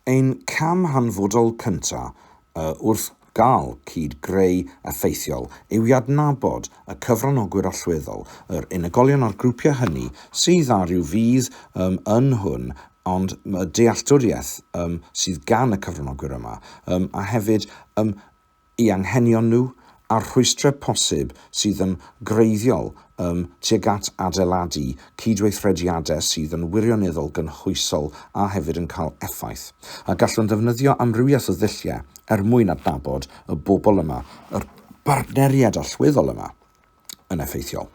A: Ein cam hanfodol cyntaf wrth Gall cyd-greu effeithiol yw i adnabod y cyfranogwyr allweddol, yr unigolion a'r grwpiau hynny sydd â rhyw fudd ym yn hwn ond y dealltwriaeth ym sydd gan y cyfranogwyr yma ym a hefyd ym eu anghenion nhw a'r rhwystrau posib sydd yn greiddiol Ym, tuag at adeiladu cydweithrediadau sydd yn wirioneddol gynhwysol a hefyd yn cael effaith. A gallwn ddefnyddio amrywiaeth o ddulliau er mwyn adnabod y bobl yma, yr bartneriaid allweddol yma, yn effeithiol.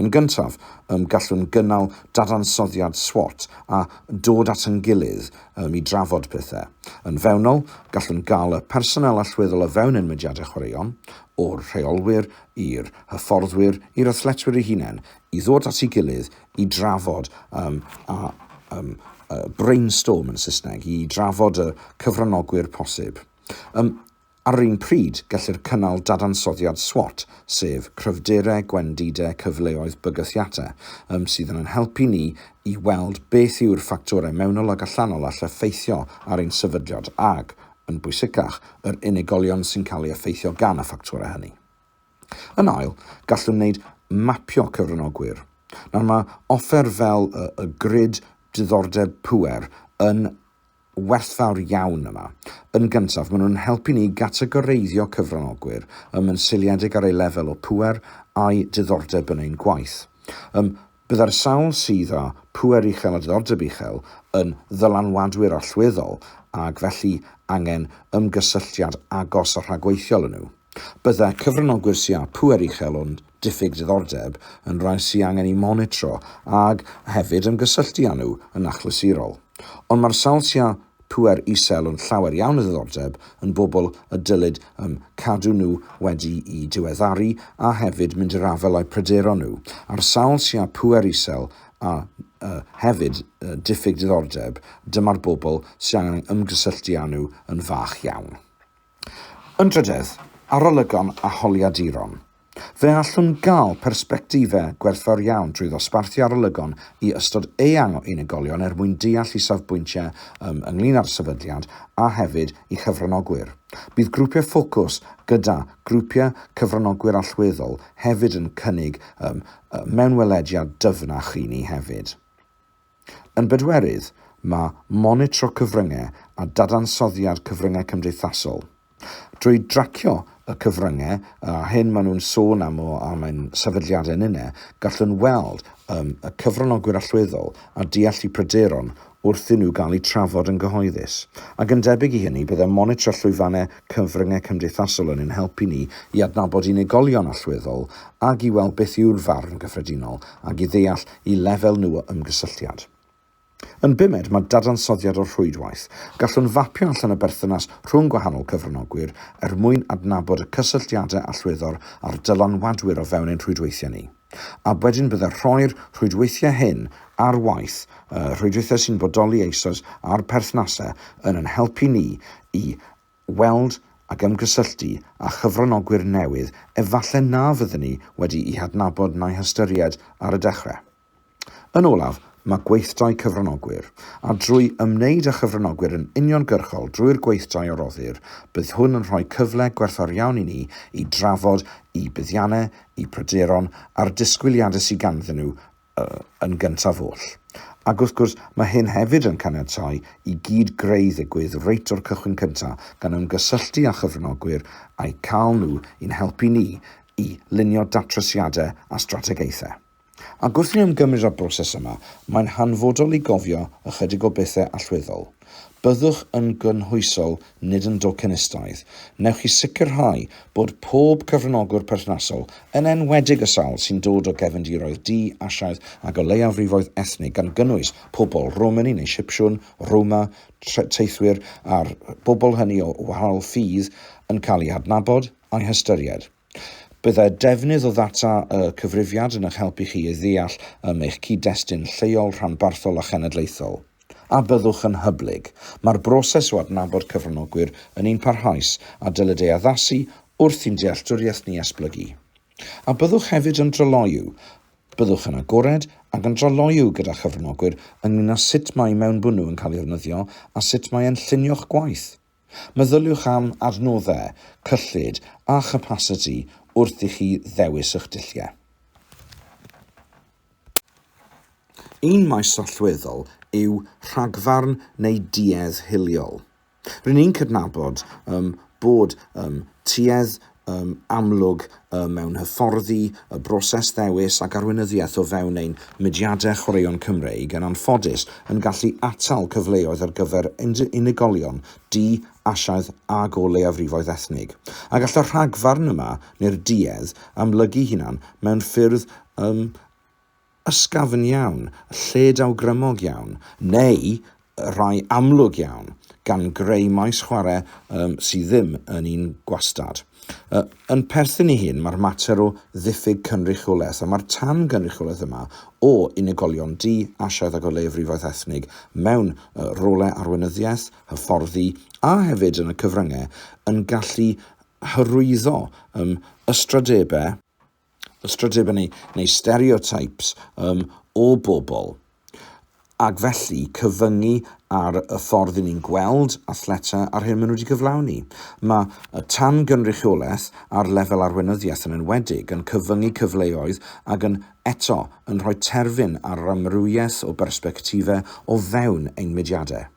A: Yn gyntaf, ym, gallwn gynnal dadansoddiad SWOT a dod at yn gilydd ym, i drafod pethau. Yn fewnol, gallwn gael y personél allweddol o fewn ein mudiadau chwaraeon, o'r rheolwyr, i'r hyfforddwyr, i'r athletwyr eu hunain, i ddod at ei gilydd i drafod um, a um, uh, brainstorm yn Saesneg, i drafod y cyfranogwyr posib. Um, ar yr un pryd, gellir cynnal dadansoddiad SWOT, sef cryfderau, gwendidau, cyfleoedd, bygythiadau, um, sydd yn helpu ni i weld beth yw'r ffactorau mewnol ac allanol all effeithio ar ein sefydliad ac yn bwysicach, yr unigolion sy'n cael ei effeithio gan y ffactorau hynny. Yn ail, gallwn wneud mapio cyfranogwyr. Nawr mae offer fel y, y grid diddordeb pŵer yn werthfawr iawn yma. Yn gyntaf, maen nhw'n helpu ni gategoreiddio cyfranogwyr ym yn seiliedig ar eu lefel o pŵer a'i diddordeb yn ein gwaith. Ym Byddai'r sawl sydd â phŵer uchel a diddordeb uchel yn ddylanwadwyr allweddol ac felly angen ymgysylltiad agos a rhagweithiol â nhw. Byddai cyfranogwyr sy' â phŵer uchel ond diffyg diddordeb yn rai sy' angen eu monitro ac hefyd ymgysylltu â nhw yn achlysurol. Ond mae'r sawl sy' â pŵer isel ond llawer iawn o ddiddordeb yn bobl y dylid ym cadw nhw wedi'i diweddaru a hefyd mynd i'r afael â'u pryderon nhw. Ar sawl sia pŵer isel a yy hefyd yy diffyg diddordeb, dyma'r bobl sy' angen ymgysylltu â nhw yn fach iawn. Yn drydedd, arolygon a holiaduron. Fe allwn gael persbectifau gwerthfawr iawn drwy ddosbarthu arolygon i ystod eang o unigolion er mwyn deall eu safbwyntiau ym ynglŷn â'r sefydliad a hefyd i chyfranogwyr. Bydd grwpiau ffocws gyda grwpiau cyfranogwyr allweddol hefyd yn cynnig ym mewnwelediad dyfnach i ni hefyd. Yn bedwerydd, mae monitro cyfryngau a dadansoddiad cyfryngau cymdeithasol. Drwy dracio y cyfryngau a hyn maen nhw'n sôn am o am ein sefydliadau ninnau, gallwn weld um, y cyfranogwyr allweddol a deall eu pryderon wrth i nhw gael eu trafod yn gyhoeddus. Ac yn debyg i hynny, byddai monitro llwyfannau cyfryngau cymdeithasol yn ein helpu ni i adnabod unigolion allweddol ac i weld beth yw'r farn gyffredinol ac i ddeall i lefel nhw o ymgysylltiad. Yn bumed, mae dadansoddiad o rhwydwaith. Gallwn fapio allan y berthynas rhwng gwahanol cyfranogwyr er mwyn adnabod y cysylltiadau allweddol a'r dylanwadwyr o fewn ein rhwydweithiau ni. A wedyn byddai rhoi'r rhwydweithiau hyn ar waith, y rhwydweithiau sy'n bodoli eisoes a'r perthnasau, yn ein helpu ni i weld ac ymgysylltu â chyfranogwyr newydd efallai na fydden ni wedi'u hadnabod na'u hystyried ar y dechrau. Yn olaf, mae gweithdai cyfranogwyr, a drwy ymwneud â chyfranogwyr yn uniongyrchol drwy'r gweithdai a roddir, bydd hwn yn rhoi cyfle gwerthfawr iawn i ni i drafod eu buddiannau, eu pryderon a'r disgwyliadau sydd ganddyn nhw yn gyntaf oll. Ac wrth gwrs, mae hyn hefyd yn caniatáu i gyd-greu ddigwydd reit o'r cychwyn cyntaf, gan ymgysylltu â chyfranogwyr a'u cael nhw i'n helpu ni i lunio datrysiadau a strategaethau. Ac wrth i ni ymgymryd â'r broses yma, mae'n hanfodol i gofio ychydig o bethau allweddol. Byddwch yn gynhwysol, nid yn docenistaidd. Wnewch chi sicrhau bod pob cyfranogwr perthnasol, yn enwedig y sawl sy'n dod o gefndiroedd du, Asiaidd ac o leiafrifoedd ethnig gan gynnwys pobl Romani neu Sipsiwn, Roma, teithwyr a'r bobl hynny o wahanol ffydd, yn cael eu hadnabod a'u hystyried? Byddai'r defnydd o ddata y cyfrifiad yn eich helpu chi i ddeall am eich cyd-destun lleol, rhanbarthol a chenedlaethol. A byddwch yn hyblyg? Mae'r broses o adnabod cyfranogwyr yn un parhaus a dylid ei addasu wrth i'n dealltwriaeth ni esblygu. A byddwch hefyd yn dryloyw? Byddwch yn agored ac yn dryloyw gyda chyfranogwyr ynglŷn â sut mae mewnbwnw yn cael ei ddefnyddio a sut mae e'n llunio'ch gwaith. Meddyliwch am adnoddau, cyllid a chapasiti wrth i chi ddewis eich dulliau. Un maes allweddol yw rhagfarn neu duedd hiliol. Rŷn ni'n cydnabod ym bod ym tuedd amlwg mewn hyfforddi, y broses ddewis ac arweinyddiaeth o fewn ein mudiadau chwaraeon Cymreig, yn anffodus, yn gallu atal cyfleoedd ar gyfer unigolion du, Asiaidd ac o leiafrifoedd ethnig. A gall y rhagfarn yma, neu'r duedd, amlygu hunan mewn ffyrdd ym ysgafn iawn, lled awgrymog iawn, neu rai amlwg iawn, gan greu maes chwarae sydd ddim yn un gwastad. Yn perthyn i hyn mae'r mater o ddiffyg cynrychiolaeth, a mae'r tan-gynrychiolaeth yma o unigolion du, Asiaidd ac o leiafrifoedd ethnig mewn rolau arweinyddiaeth, hyfforddi a hefyd yn y cyfryngau yn gallu hyrwyddo ystradebau, ystrydebynnu neu stereotypes um, o bobl, ac felly cyfyngu ar y ffordd i ni'n gweld athleta a'r hyn maen nhw wedi cyflawni. Mae y tan-gynrychiolaeth ar lefel arweinyddiaeth yn enwedig yn cyfyngu cyfleoedd ac yn eto yn rhoi terfyn ar yr amrywiaeth o bersbectifau o fewn ein mudiadau.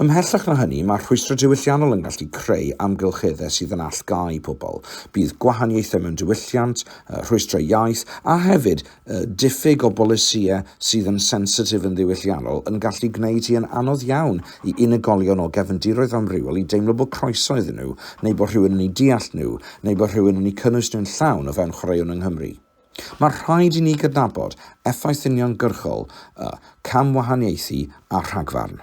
A: Ymhellach na hynny, mae rhwystrau diwylliannol yn gallu creu amgylcheddau sydd yn allgáu pobl. Bydd gwahaniaethau mewn diwylliant, rhwystrau iaith, a hefyd diffyg o bolisïau sydd yn sensitif yn ddiwylliannol yn gallu gwneud hi yn anodd iawn i unigolion o gefndiroedd amrywiol i deimlo bod croeso iddyn nhw, neu bod rhywun yn eu deall nhw, neu bod rhywun yn eu cynnwys nhw'n llawn o fewn chwaraeon yng Nghymru. Mae rhaid i ni gydnabod effaith uniongyrchol y camwahaniaethu â rhagfarn.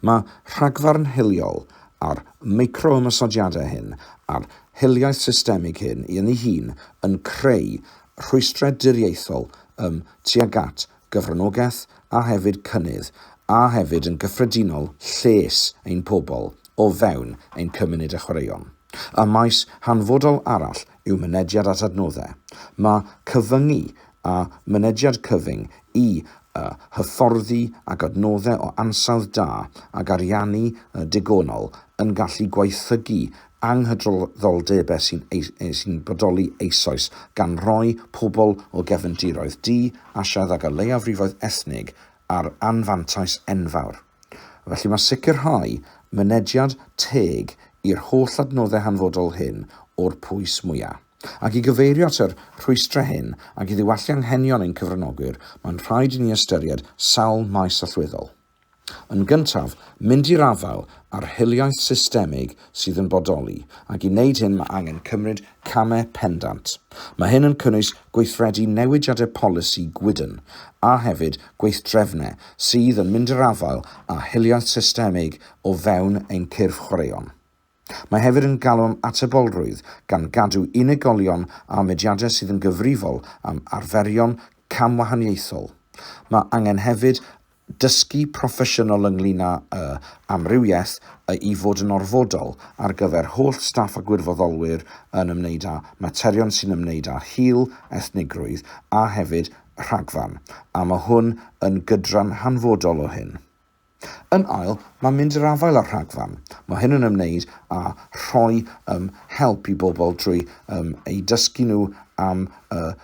A: Mae rhagfarn hiliol a'r micro-ymosodiadau hyn a'r hiliaeth systemig hyn yn ei hun yn creu rhwystrau diriaethol ym tuag at gyfranogaeth a hefyd cynnydd, a hefyd yn gyffredinol lles ein pobl o fewn ein cymuned a chwaraeon. Y maes hanfodol arall yw mynediad at adnoddau. Mae cyfyngu a mynediad cyfyng i y hyfforddi ac adnoddau o ansawdd da ac ariannu digonol yn gallu gwaethygu anghydraddoldebau sy'n sy'n bodoli eisoes, gan roi pobl o gefndiroedd du, Asiaidd ac o leiafrifoedd ethnig ar anfantais enfawr. Felly mae sicrhau mynediad teg i'r holl adnoddau hanfodol hyn o'r pwys mwyaf. Ac i gyfeirio at yr rhwystrau hyn ac i ddiwallu anghenion ein cyfranogwyr, mae'n rhaid i ni ystyried sawl maes allweddol. Yn gyntaf, mynd i'r afael â'r hiliaeth systemig sydd yn bodoli, ac i wneud hyn mae angen cymryd camau pendant. Mae hyn yn cynnwys gweithredu newidiadau polisi gwydn, a hefyd gweithdrefnau sydd yn mynd i'r afael â hiliaeth systemig o fewn ein cyrff chwaraeon. Mae hefyd yn galw am atebolrwydd, gan gadw unigolion a mudiadau sydd yn gyfrifol am arferion camwahaniaethol. Mae angen hefyd dysgu proffesiynol ynglŷn â'u amrywiaeth a'u fod yn orfodol ar gyfer holl staff a gwirfoddolwyr yn ymwneud â materion sy'n ymwneud â hil, ethnigrwydd a hefyd rhagfarn, a mae hwn yn gydran hanfodol o hyn. Yn ail, mae mynd i'r afael â'r rhagfarn. Mae hyn yn ymwneud â rhoi um, help i bobl drwy um, eu dysgu nhw am y uh,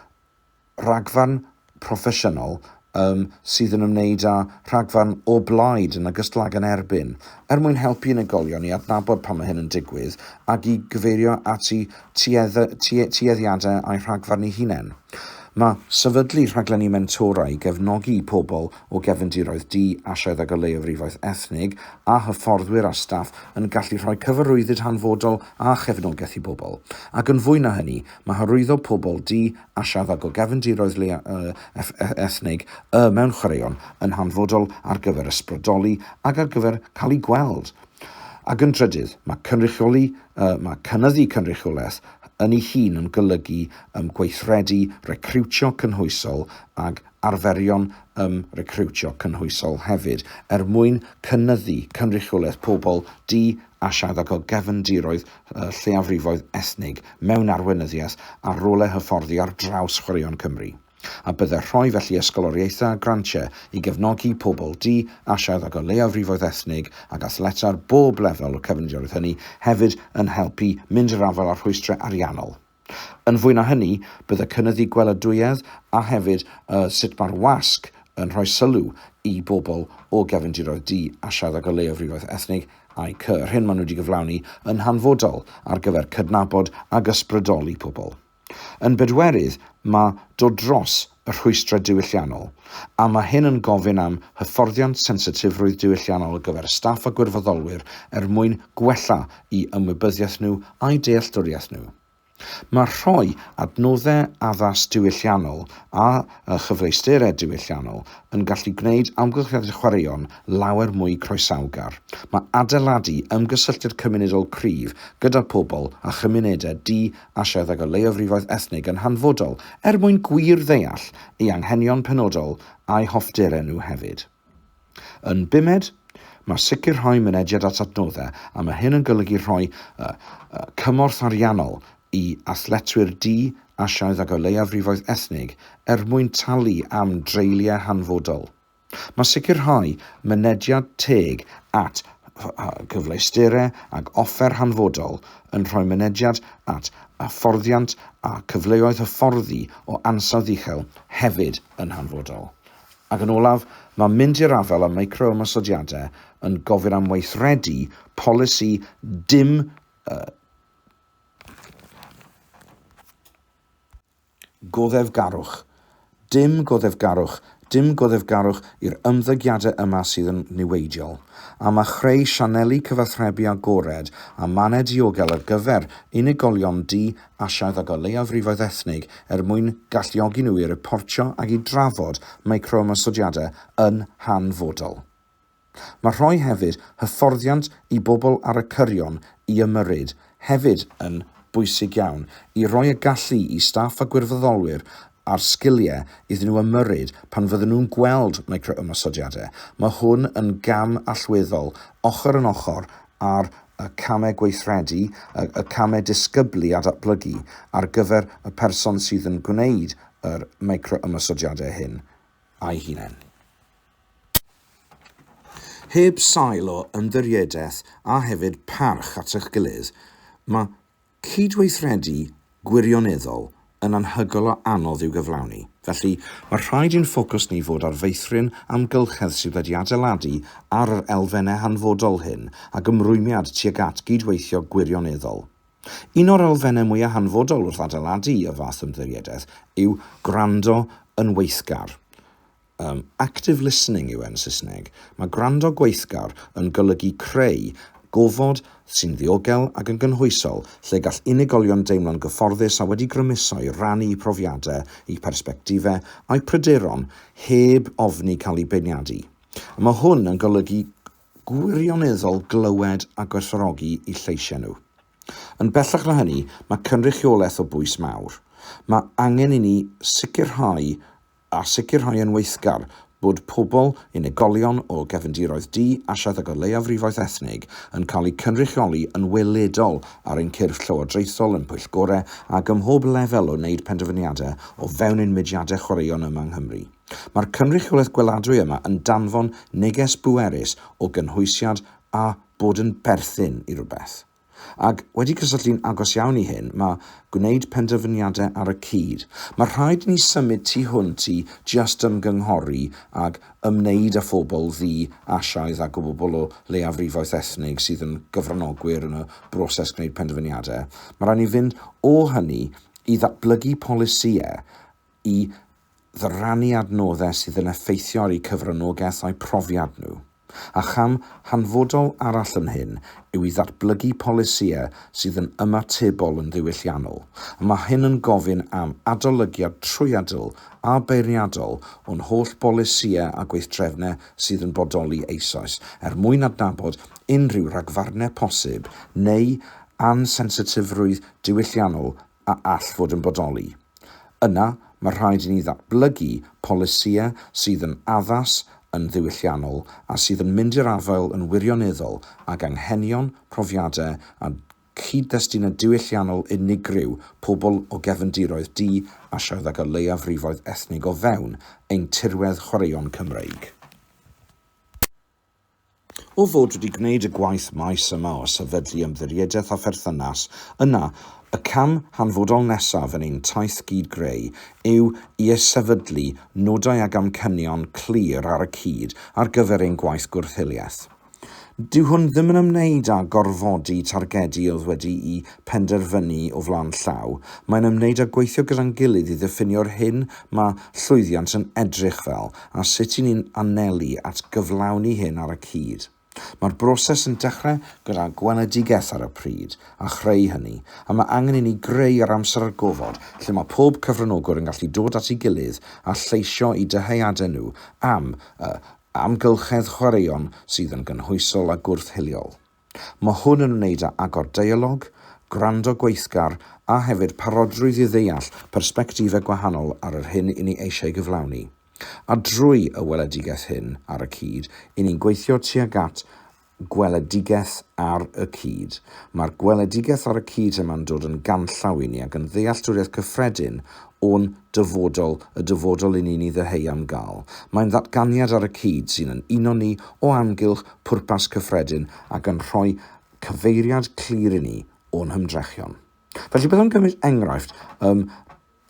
A: rhagfarn proffesiynol um, sydd yn ymwneud â rhagfarn o blaid yn ogystal ag yn erbyn, er mwyn helpu unigolion i adnabod pan mae hyn yn digwydd ac i gyfeirio at eu tueddiadau a'u rhagfarn eu hunain. Mae sefydlu rhaglenni mentora i gefnogi pobl o gefndiroedd di-Asiaidd ag o leiafrifoedd ethnig, a hyfforddwyr a staff yn gallu rhoi cyfarwyddyd hanfodol a chefnogaeth i bobl. Ac yn fwy na hynny, mae hyrwyddo pobl di-Asiaidd ag o gefndiroedd leiafrifoedd ethnig y mewn chwaraeon yn hanfodol ar gyfer ysbrydoli ac ar gyfer cael eu gweld. Ac yn drydydd, mae cynrychioli, mae cynyddu cynrychiolaeth yn ei hun yn golygu gweithredu recriwtio cynhwysol ag arferion ym recriwtio cynhwysol hefyd, er mwyn cynyddu cynrychiolaeth pobl du a siadog o gefndiroedd lleiafrifoedd ethnig mewn arweinyddiaeth a rolau hyfforddi ar draws chwaraeon Cymru, a byddai rhoi felly ysgoloriaethau a grantiau i gefnogi pobl du a siadog o leiafrifoedd ethnig ac athletau ar bob lefel o'r cefndiroedd hynny hefyd yn helpu mynd i'r afael â'r rhwystrau ariannol. Yn fwy na hynny, bydd y cynyddu gweladwyedd a hefyd y sut mae'r wasg yn rhoi sylw i bobl o gefndiroedd du a siaddag o leiafrifoedd ethnig a'i cy, yr hyn maen nhw wedi gyflawni yn hanfodol ar gyfer cydnabod ac ysbrydoli pobl. Yn bedwerydd, mae dod dros y rhwystrau diwylliannol, a mae hyn yn gofyn am hyfforddiant sensitifrwydd diwylliannol ar gyfer y staff a gwirfoddolwyr er mwyn gwella'i ymwybyddiaeth nhw a'u dealltwriaeth nhw. Mae rhoi adnoddau addas diwylliannol a chyfleusterau diwylliannol yn gallu gwneud amgylchiadau chwaraeon lawer mwy croesawgar. Mae adeiladu ymgysylltiad cymunedol cryf gyda phobl a chymunedau du Asiaidd ag o leiafrifoedd ethnig yn hanfodol er mwyn gwir ddeall ei anghenion penodol a'i hoffterau nhw hefyd. Yn bumed, mae sicrhau mynediad at adnoddau, a mae hyn yn golygu rhoi y, y, cymorth ariannol i athletwyr du, Asiaidd ag o leiafrifoedd ethnig er mwyn talu am dreuliau hanfodol. Mae sicrhau mynediad teg at gyfleusterau ag offer hanfodol yn rhoi mynediad at hyfforddiant a chyfleoedd hyfforddi o ansawdd uchel hefyd yn hanfodol. Ac yn olaf, mae mynd i'r afael â micro-ymosodiadau yn gofyn am weithredu polisi dim Goddefgarwch, dim goddefgarwch, dim goddefgarwch i'r ymddygiadau yma sydd yn niweidiol. Am a chreu sianeli cyfathrebu agored a mannau diogel ar gyfer unigolion du, Asiaidd ac o leiafrifoedd ethnig er mwyn galluogi nhw i riportio ac i drafod micro-ymosodiadau yn hanfodol. Mae rhoi hefyd hyfforddiant i bobl ar y cyrion i ymyrryd hefyd yn bwysig iawn i roi y gallu i staff a gwirfoddolwyr a'r sgiliau iddyn nhw ymyrryd pan fydden nhw'n gweld micro-ymosodiadau. Mae hwn yn gam allweddol ochr yn ochr â'r y camau gweithredu, y y camau disgyblu a datblygu ar gyfer y person sydd yn gwneud yr micro-ymosodiadau hyn a'i hunain. Heb sail o ymddiriedaeth a hefyd parch at eich gilydd, mae cydweithredu gwirioneddol yn anhygoel o anodd i'w gyflawni. Felly, mae rhaid i'n ffocws ni fod ar feithrin amgylchedd sydd wedi adeiladu ar yr elfennau hanfodol hyn ac ymrwymiad tuag at gydweithio gwirioneddol. Un o'r elfennau mwyaf hanfodol wrth adeiladu y fath ymddiriedaeth yw gwrando yn weithgar. Yym, active listening yw e yn Saesneg. Mae gwrando gweithgar yn golygu creu gofod sy'n ddiogel ac yn gynhwysol lle gall unigolion deimlo'n gyfforddus a wedi grymuso i rannu eu profiadau, eu persbectifau a'u pryderon heb ofni cael eu beirniadu. A mae hwn yn golygu gwirioneddol glywed a gwerthfawrogi eu lleisiau nhw. Yn bellach na hynny, mae cynrychiolaeth o bwys mawr. Mae angen i ni sicrhau a sicrhau yn weithgar bod pobl, unigolion o gefndiroedd du, asiaeth ac o leiafrifoedd ethnig yn cael eu cynrychioli yn weledol ar ein cyrff llywodraethol, yn pwyllgorau ac ym mhob lefel o wneud penderfyniadau o fewn ein mudiadau chwaraeon yma yng Nghymru. Mae'r cynrychiolaeth gweladwy yma yn danfon neges bwerus o gynhwysiad a bod yn berthyn i rywbeth. Ac, wedi cysylltu'n agos iawn i hyn, mae gwneud penderfyniadau ar y cyd. Mae rhaid i ni symud tu hwnt i jyst ymgynghori ac ymwneud â phobl ddu, Asiaidd ac o bobl o leiafrifoedd ethnig sydd yn gyfranogwyr yn y broses gwneud penderfyniadau. Mae rhaid i ni fynd o hynny i ddatblygu polisïau i ddyrannu adnoddau sydd yn effeithio ar eu cyfranogaeth a'u profiad nhw, a cham hanfodol arall yn hyn yw i ddatblygu polisïau sydd yn ymatebol yn ddiwylliannol, a mae hyn yn gofyn am adolygiad trwyadl a beirniadol o'n holl bolisïau a gweithdrefnau sydd yn bodoli eisoes er mwyn adnabod unrhyw ragfarnau posib neu ansensitifrwydd diwylliannol a all fod yn bodoli. Yna, mae rhaid i ni ddatblygu polisïau sydd yn addas, yn ddiwylliannol a sydd yn mynd i'r afael yn wirioneddol ag anghenion, profiadau a chyd-destunau diwylliannol unigryw pobl o gefndiroedd du Asiaidd ac o leiafrifoedd ethnig o fewn ein tirwedd chwaraeon Cymreig. O fod wedi gwneud y gwaith maes yma o sefydlu ymddiriedaeth a pherthynas, yna y cam hanfodol nesaf yn ein taith gyd-greu yw i ysefydlu nodau ag amcanion clir ar y cyd ar gyfer ein gwaith gwrth-hiliaeth. Dyw hwn ddim yn ymwneud â gorfodi targedi oedd wedi'u penderfynu o flaen llaw, mae'n ymwneud â gweithio gyda'n gilydd i ddiffinio'r hyn mae llwyddiant yn edrych fel, a sut y'n ni'n anelu at gyflawni hyn ar y cyd. Mae'r broses yn dechrau gyda gweledigaeth ar y pryd, a chreu hynny, a mae angen i ni greu yr amser a'r gofod lle mae pob cyfranogwr yn gallu dod at ei gilydd a lleisio eu dyheadau nhw am y amgylchedd chwaraeon sydd yn gynhwysol a gwrth-hiliol. Mae hwn yn wneud â agor deialog, gwrando gweithgar a hefyd parodrwydd i ddeall persbectifau gwahanol ar yr hyn i ni eisiau gyflawni. A drwy y weledigaeth hyn ar y cyd, i ni'n gweithio tuag at gweledigaeth ar y cyd. Mae'r gweledigaeth ar y cyd yma'n dod yn ganllaw i ni ac yn ddealltwriaeth cyffredin o'n dyfodol, y dyfodol i ni'n ei ddyheu am gael. Mae'n ddatganiad ar y cyd sy'n yn uno ni o amgylch pwrpas cyffredin ac yn rhoi cyfeiriad clir i ni o'n hymdrechion. Felly byddwn gymryd enghraifft ym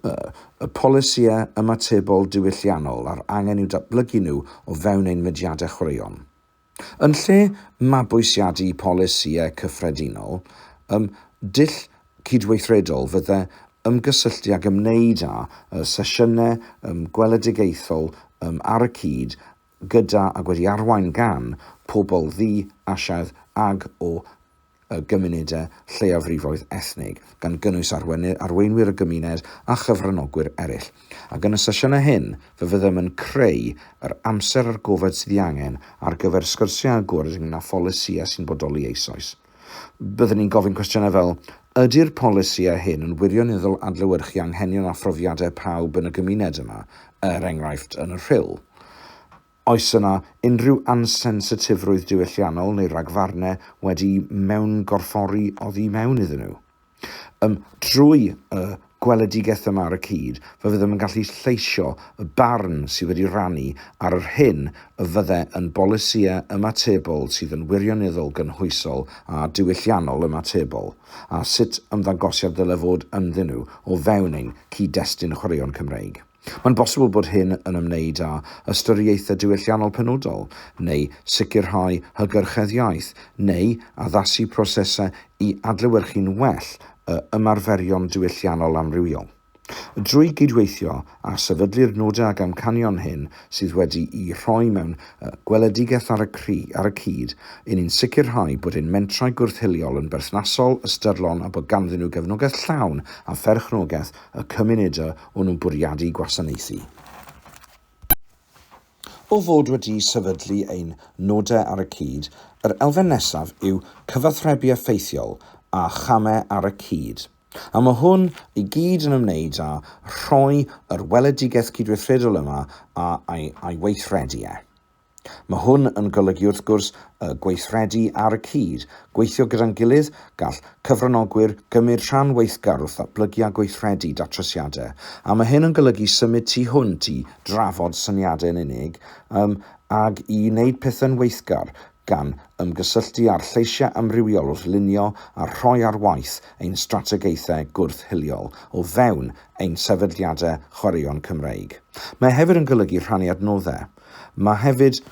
A: y polisïau ymatebol diwylliannol a'r angen i'w datblygu nhw o fewn ein mudiadau chwaraeon. Yn lle mabwysiadu polisïau cyffredinol, ym dull cydweithredol fydde ymgysylltu ag ymwneud â sesiynau gweledigaethol ar y cyd gyda ag wedi arwain gan pobl ddu, Asiaidd ag o gymunedau lleiafrifoedd ethnig, gan gynnwys arweinwyr y gymuned a chyfranogwyr eraill. Ac yn y sesiynau hyn, fe fyddem yn creu yr amser a'r gofod sydd ei angen ar gyfer sgyrsiau agored ynglŷn â pholisïau sy'n bodoli eisoes. Byddwn ni'n gofyn cwestiynau fel, Ydy'r polisïau hyn yn wirioneddol adlewyrchu anghenion a phrofiadau pawb yn y gymuned yma, er enghraifft yn y Rhyl? Oes yna unrhyw ansensitifrwydd diwylliannol neu ragfarnau wedi mewngorffori oddi mewn iddyn nhw? Yym, trwy y gweledigaeth yma ar y cyd, fe fyddem yn gallu lleisio y barn sydd wedi rannu ar yr hyn y fydde yn bolisïau ymatebol sydd yn wirioneddol gynhwysol a diwylliannol ymatebol, a sut ymddangosiad ddyle fod ynddyn nhw o fewn ein cyd-destun chwaraeon Cymreig. Mae'n bosibl bod hyn yn ymwneud â ystyriaethau diwylliannol penodol, neu sicrhau hygyrchedd iaith, neu addasu prosesau i adlewyrchu'n well y ymarferion diwylliannol amrywiol. Drwy gydweithio a sefydlu'r nodau ac amcanion hyn sydd wedi'u rhoi mewn gweledigaeth ar y cyd, yn ni'n sicrhau bod ein mentrau gwrth-hiliol yn berthnasol, ystyrlon a bod ganddyn nhw gefnogaeth llawn a pherchnogaeth y cymunedau o'n nhw'n bwriadu gwasanaethu. O fod wedi sefydlu ein nodau ar y cyd, yr elfen nesaf yw cyfathrebu effeithiol a chamau ar y cyd, a mae hwn i gyd yn ymwneud â rhoi yr weledigaeth cydweithredol yma a'i weithredu e. Mae hwn yn golygu wrth gwrs y gweithredu ar y cyd, gweithio gyda'n gilydd, gall cyfranogwyr gymryd rhan weithgar wrth ddatblygu a gweithredu datrysiadau, a mae hyn yn golygu symud tu hwnt i drafod syniadau yn unig um, ag i wneud pethau'n weithgar, gan ymgysylltu â'r lleisiau amrywiol wrth lunio a rhoi ar waith ein strategaethau gwrth-hiliol o fewn ein sefydliadau chwaraeon Cymreig. Mae e hefyd yn golygu rhannu adnoddau. Mae hefyd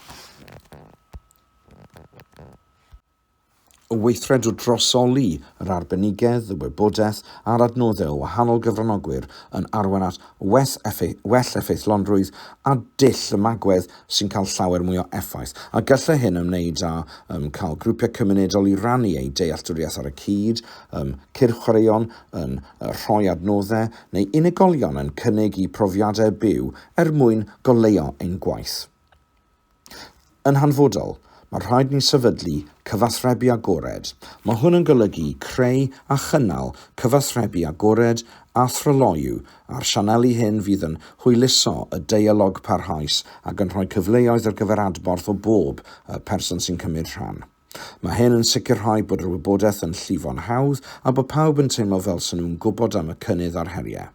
A: o weithredu drosoli yr arbenigedd, y wybodaeth a'r adnoddau o wahanol gyfranogwyr yn arwain at well effeithlonrwydd a dull y magwedd sy'n cael llawer mwy o effaith, a gallai hyn ymwneud â um, cael grwpiau cymunedol i rannu eu dealltwriaeth ar y cyd, um, cyrch chwaraeon yn uh, rhoi adnoddau, neu unigolion yn cynnig eu profiadau byw er mwyn goleuo ein gwaith. Yn hanfodol, mae rhaid ni sefydlu cyfathrebu agored. Mae hwn yn golygu creu a chynnal cyfathrebu agored a thryloyw a'r sianeli hyn fydd yn hwyluso y deialog parhaus ac yn rhoi cyfleoedd ar gyfer adborth o bob person sy'n cymryd rhan. Mae hyn yn sicrhau bod yr wybodaeth yn llifo'n hawdd a bod pawb yn teimlo fel sy'n nhw'n gwybod am y cynnydd a'r heriau.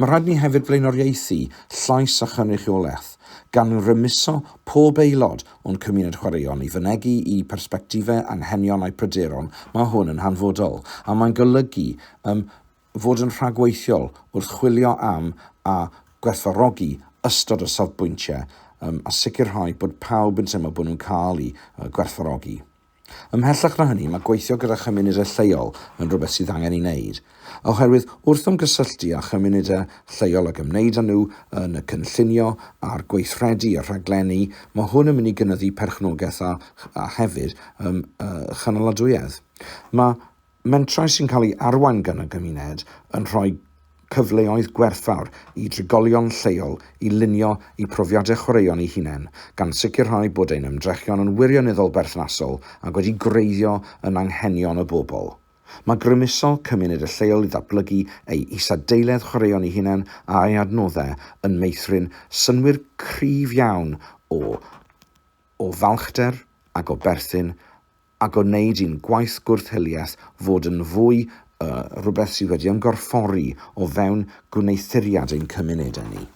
A: Mae rhaid ni hefyd flaenoriaethu llais a chynrychiolaeth, gan rymuso pob aelod o'n cymuned chwaraeon i fynegi'u persbectifau, anghenion a'u pryderon, mae hwn yn hanfodol, a mae'n golygu ym fod yn rhagweithiol wrth chwilio am a gwerthfawrogi ystod o safbwyntiau a sicrhau bod pawb yn teimlo bod nhw'n cael eu gwerthfawrogi. Ymhellach na hynny, mae gweithio gyda chymunedau lleol yn rhywbeth sydd angen ei wneud, oherwydd wrth ymgysylltu â chymunedau lleol ac ymwneud â nhw yn y cynllunio a'r gweithredu a rhaglenni, mae hwn yn mynd i gynyddu perchnogaeth a, a hefyd, ym, uh, chynaladwyedd. Mae Mentrau sy'n cael eu arwain gan y gymuned yn rhoi cyfleoedd gwerthfawr i drigolion lleol i lunio eu profiadau chwaraeon eu hunain, gan sicrhau bod ein ymdrechion yn wirioneddol berthnasol ac wedi gwreiddio yn anghenion y bobl. Mae grymuso cymuned y lleol i ddatblygu ei isadeiledd chwaraeon ei hunain a'i adnoddau yn meithrin synnwyr cryf iawn o o falchder ac o berthyn a gwneud i'n gwaith gwrth-hiliaeth fod yn fwy yy rhywbeth sydd wedi ymgorffori o fewn gwneuthuriad ein cymunedau ni.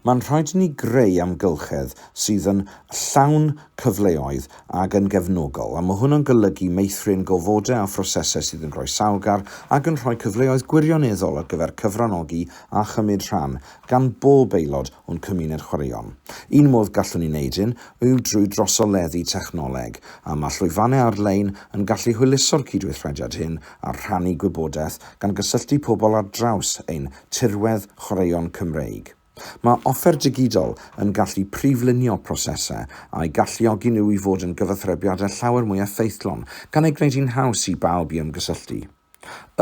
A: Mae'n rhaid i ni greu amgylchedd sydd yn llawn cyfleoedd ac yn gefnogol, a mae hwnnw'n golygu meithrin gofodau a phrosesau sydd yn groesawgar ac yn rhoi cyfleoedd gwirioneddol ar gyfer cyfranogi a chymryd rhan gan bob aelod o'n cymuned chwaraeon. Un modd gallwn ni wneud hyn yw drwy drosoleddu technoleg, a mae llwyfannau ar-lein yn gallu hwyluso'r cydweithrediad hyn a rhannu gwybodaeth gan gysylltu pobl ar draws ein tirwedd chwaraeon Cymreig. Mae offer digidol yn gallu priflunio prosesau a'i galluogi nhw i fod yn gyfathrebiadau llawer mwy effeithlon, gan ei gwneud hi'n haws i bawb i ymgysylltu.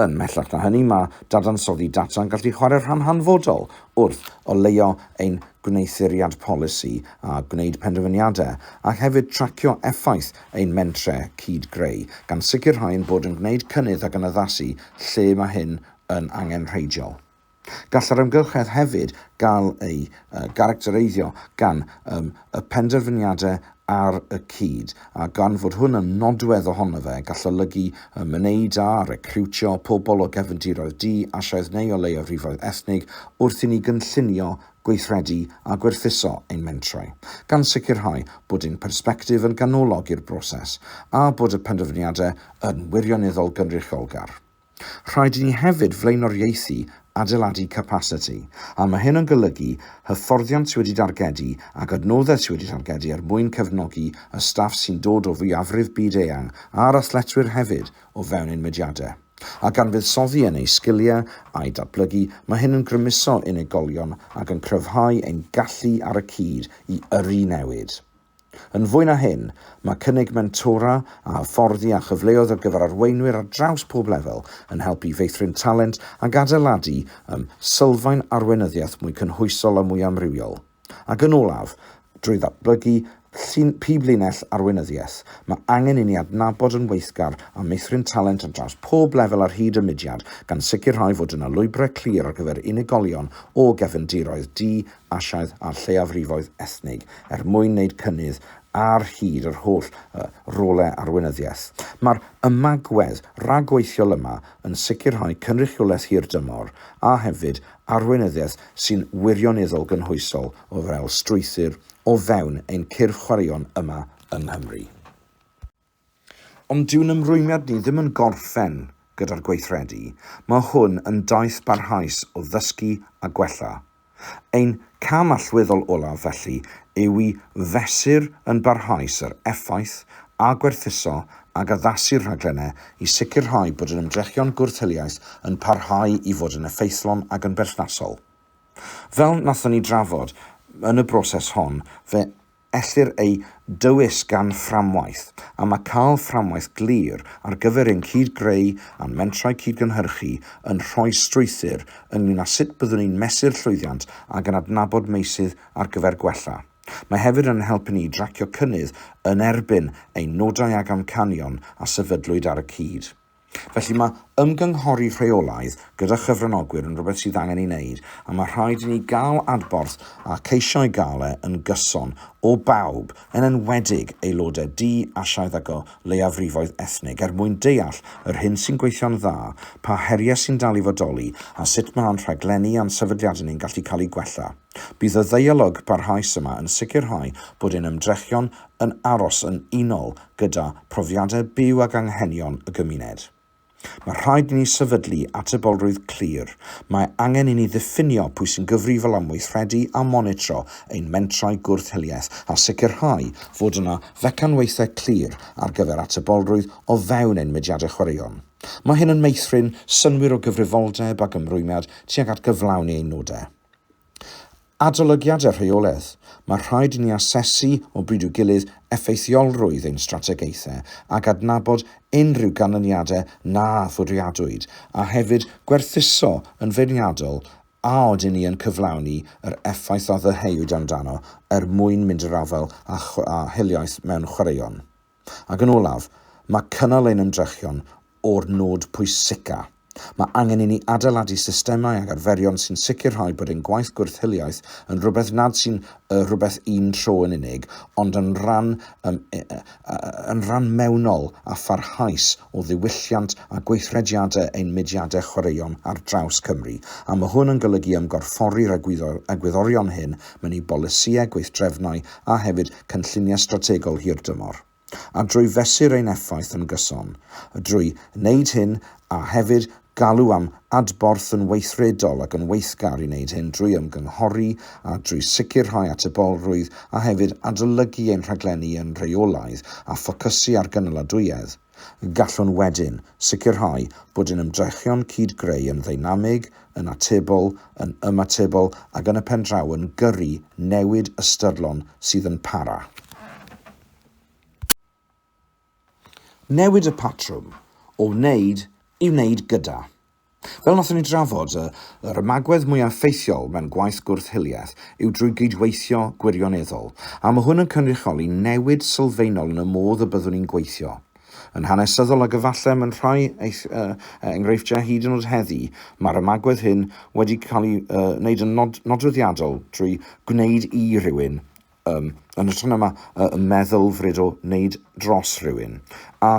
A: Yn mhellach na hynny, mae dadansoddi data yn gallu chwarae rhan hanfodol wrth oleuo ein gwneuthuriad polisi a gwneud penderfyniadau, ac hefyd tracio effaith ein mentrau cyd-greu, gan sicrhau ein bod yn gwneud cynnydd ac yn addasu lle mae hyn yn angenrheidiol. Gall yr amgylchedd hefyd gael ei garactereiddio gan y penderfyniadau ar y cyd, a gan fod hwn yn nodwedd ohono fe, gall olygu myned a recriwtio pobl o gefndiroedd di-Asiaidd neu o leiafrifoedd ethnig wrth i ni gynllunio, gweithredu a gwerthuso ein mentrau, gan sicrhau bod ein persbectif yn ganolog i'r broses a bod y penderfyniadau yn wirioneddol gynrychiolgar. Rhaid i ni hefyd flaenoriaethu adeiladu capasiti, a mae hyn yn golygu hyfforddiant sydd wedi dargedu ac adnoddau sydd wedi targedu er mwyn cefnogi y staff sy'n dod o fwyafrif byd-eang a'r athletwyr hefyd o fewn ein mudiadau. A gan fuddsoddi yn eu sgiliau a'u datblygu, mae hyn yn grymuso unigolion ac yn cryfhau ein gallu ar y cyd i yrru newid. Yn fwy na hyn, mae cynnig mentora a hyfforddi a chyfleoedd ar gyfer arweinwyr ar draws pob lefel yn helpu i feithrin talent ac adeiladu ym sylfaen arweinyddiaeth mwy cynhwysol a mwy amrywiol. Ac yn olaf, drwy ddatblygu llun pib linell arweinyddiaeth, mae angen i ni adnabod yn weithgar a meithrin talent ar draws pob lefel ar hyd y mudiad, gan sicrhau fod yna lwybrau clir ar gyfer unigolion o gefndiroedd du Asiaidd a'r lleiafrifoedd ethnig er mwyn wneud cynnydd ar hyd yr holl rolau arweinyddiaeth. Mae'r ymagwedd rhagweithiol yma yn sicrhau cynrychiolaeth hirdymor a hefyd arweinyddiaeth sy'n wirioneddol gynhwysol o fel strwythur o fewn ein cyrff chwaraeon yma yng Nghymru. Ond dyw'n ymrwymiad ni ddim yn gorffen gyda'r gweithredu, mae hwn yn daith barhaus o ddysgu a gwella. Ein cam allweddol olaf, felly, yw i fesur yn barhaus yr effaith a gwerthuso ac addasu'r rhaglennau i sicrhau bod ein ymdrechion gwrth-hiliaeth yn parhau i fod yn effeithlon ac yn berthnasol. Fel wnaethon ni drafod yn y broses hon, fe ellir eu dewis gan fframwaith, a mae cael fframwaith glir ar gyfer ein cyd-greu a'n mentrau cyd-gynhyrchu yn rhoi strwythur ynglŷn â sut byddwn ni'n mesur llwyddiant ac yn adnabod meysydd ar gyfer gwella. Mae hefyd yn ein helpu ni i dracio cynnydd yn erbyn ein nodau ac amcanion a sefydlwyd ar y cyd. Felly, mae ymgynghori rheolaidd gyda chyfranogwyr yn rhywbeth sydd angen ei wneud, a mae rhaid i ni gael adborth a ceisio ei gael e yn gyson o bawb, yn enwedig aelodau du, Asiaidd ac o leiafrifoedd ethnig, er mwyn deall yr hyn sy'n gweithio'n dda, pa heriau sy'n dal i fodoli, a sut mae ein rhaglenni a'n sefydliadau ni'n gallu cael eu gwella. Bydd y ddeialog barhaus yma yn sicrhau bod ein ymdrechion yn aros yn unol gyda phrofiadau byw ac anghenion y gymuned. Mae rhaid i ni sefydlu atebolrwydd clir, mae angen i ni ddiffinio pwy sy'n gyfrifol am weithredu a monitro ein mentrau gwrth-hiliaeth a sicrhau fod yna fecanwaethau clir ar gyfer atebolrwydd o fewn ein mudiadau chwaraeon. Mae hyn yn meithrin synnwyr o gyfrifoldeb ac ymrwymiad tuag at gyflawni ein nodau. Adolygiad a rheolaeth, Mae rhaid i ni asesu o bryd i'w gilydd effeithiolrwydd ein strategaethau ac adnabod unrhyw ganlyniadau na fwriadwyd, a hefyd gwerthuso yn feirniadol a ydyn ni yn cyflawni yr effaith a ddyheuwyd amdano er mwyn mynd i'r afael â hiliaeth mewn chwaraeon. Ac yn olaf, mae cynnal ein ymdrechion o'r nod pwysicaf. Mae angen i ni adeiladu systemau ac arferion sy'n sicrhau bod ein gwaith gwrth-hiliaeth yn rhywbeth nad sy'n y rhywbeth un tro yn unig, ond yn rhan, um, yn rhan mewnol a pharhaus o ddiwylliant a gweithrediadau ein mudiadau chwaraeon ar draws Cymru, a mae hwn yn golygu ymgorffori'r egwyddorion hyn mewn i bolisïau, gweithdrefnau a hefyd cynlluniau strategol hir dymor, a drwy fesur ein effaith yn gyson, a drwy wneud hyn a hefyd galw am adborth yn weithredol ac yn weithgar i wneud hyn drwy ymgynghori a drwy sicrhau atebolrwydd a hefyd adolygu ein rhaglenni yn rheolaidd a ffocysu ar gynaladwyedd, Gallwn wedyn sicrhau bod ein ymdrechion cyd-greu yn ddeinamig, yn atebol, yn ymatebol ac yn y pen draw yn gyrru newid ystyrlon sydd yn para. Newid y patrwm o wneud i wneud gyda. Fel nathon ni drafod, yr ymagwedd mwya effeithiol mewn gwaith gwrth-hiliaeth yw drwy gydweithio gwirioneddol, a ma' hwn yn cynrychioli newid sylfaenol yn y modd y byddwn ni'n gweithio. Yn hanesyddol, ag efalle mewn rhai enghreifftiau hyd yn o'd heddi, ma'r ymagwedd hyn wedi cael ei wneud yn nodweddiadol drwy gwneud i rywun, Yym, yn hytrach na ma- yy, y meddylfryd o wneud dros rhywun. A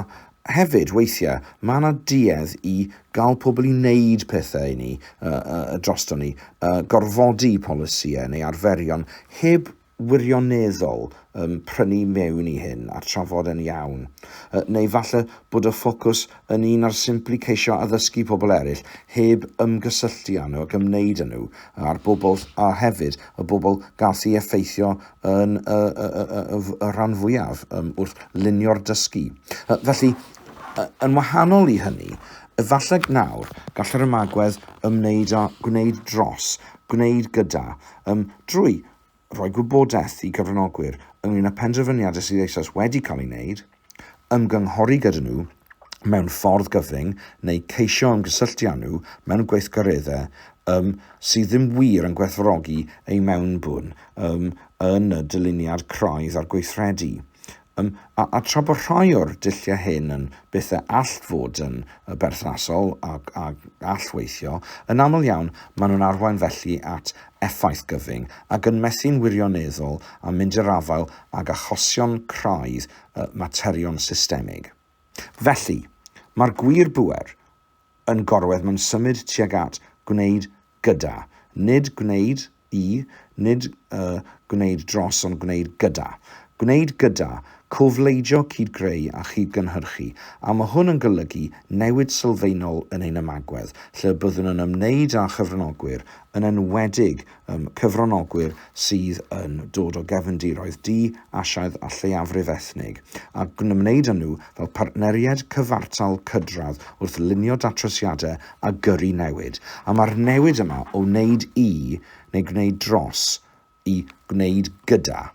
A: hefyd, weithiau, mae yna duedd i gael pobl i wneud pethau i ni, yy, yy, drosto ni, yy, gorfodi polisïau neu arferion heb wirioneddol yym, prynu mewn i hyn a trafod e'n iawn. Yy, neu falle bod y ffocws yn un ar simply ceisio addysgu pobl eraill heb ymgysylltu â nhw ac ymwneud â nhw a'r bobl a hefyd y bobl gall ei effeithio yn y, y, y, y, y, y rhan fwyaf um, wrth lunio'r dysgu. Uh, felly, uh, yn wahanol i hynny, efallai nawr gall yr ymagwedd ymwneud â gwneud dros, gwneud gyda, um, drwy rhoi gwybodaeth i gyfranogwyr ynglŷn â phenderfyniadau sydd eisoes wedi cael eu gwneud, ymgynghori gyda nhw mewn ffordd gyfyng neu ceisio ymgysylltu â nhw mewn gweithgareddau um, sydd ddim wir yn gwerthfawrogi eu mewnbwn um, yn y dyluniad craidd a'r gweithredu Ym, a, a tra bod rhai o'r dulliau hyn yn beth y all fod yn berthnasol a, a gall weithio, yn aml iawn maen nhw'n arwain felly at effaith gyfyng, ac yn methu'n wirioneddol â mynd i'r afael ag achosion craidd y materion systemig. Felly, mae'r gwir bŵer, yn gorwedd mewn symud tuag at, gwneud gyda. Nid gwneud i, nid y, gwneud dros ond gwneud gyda. Gwneud gyda, cofleidio cyd-greu a chyd-gynhyrchu, a mae hwn yn golygu newid sylfaenol yn ein ymagwedd, lle byddwn yn ymwneud â chyfranogwyr, yn enwedig um, cyfranogwyr sydd yn dod o gefndiroedd du, Asiaidd a lleiafrif ethnig, a gwneud â nhw fel partneriaid cyfartal cydradd wrth lunio datrysiadau a gyrru newid. A mae'r newid yma o wneud i, neu gwneud dros, i gwneud gyda.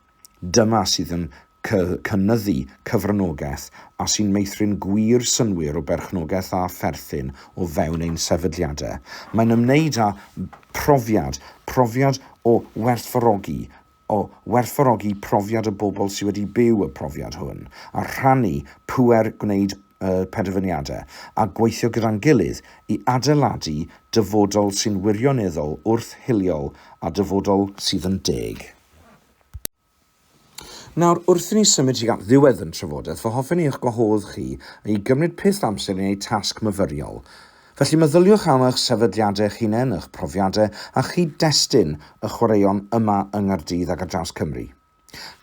A: Dyma sydd yn cynyddu cyfranogaeth a sy'n meithrin gwir synnwyr o berchnogaeth a pherthyn o fewn ein sefydliadau. Mae'n ymwneud â phrofiad, profiad o werthfawrogi, o werthfawrogi profiad y bobl sydd wedi byw y profiad hwn, a rhannu pŵer gwneud y penderfyniadau, a gweithio gyda'n gilydd i adeiladu dyfodol sy'n wirioneddol wrth-hiliol a dyfodol sydd yn deg. Nawr, wrth i ni symud tuag at ddiwedd yn trafodaeth, fy hoffen i eich gwahodd chi i gymryd peth amser i wneud tasg myfyriol. Felly, meddyliwch am eich sefydliadau eich hunain, eich profiadau a chyd-destun y chwaraeon yma yng Nghaerdydd ac ar draws Cymru.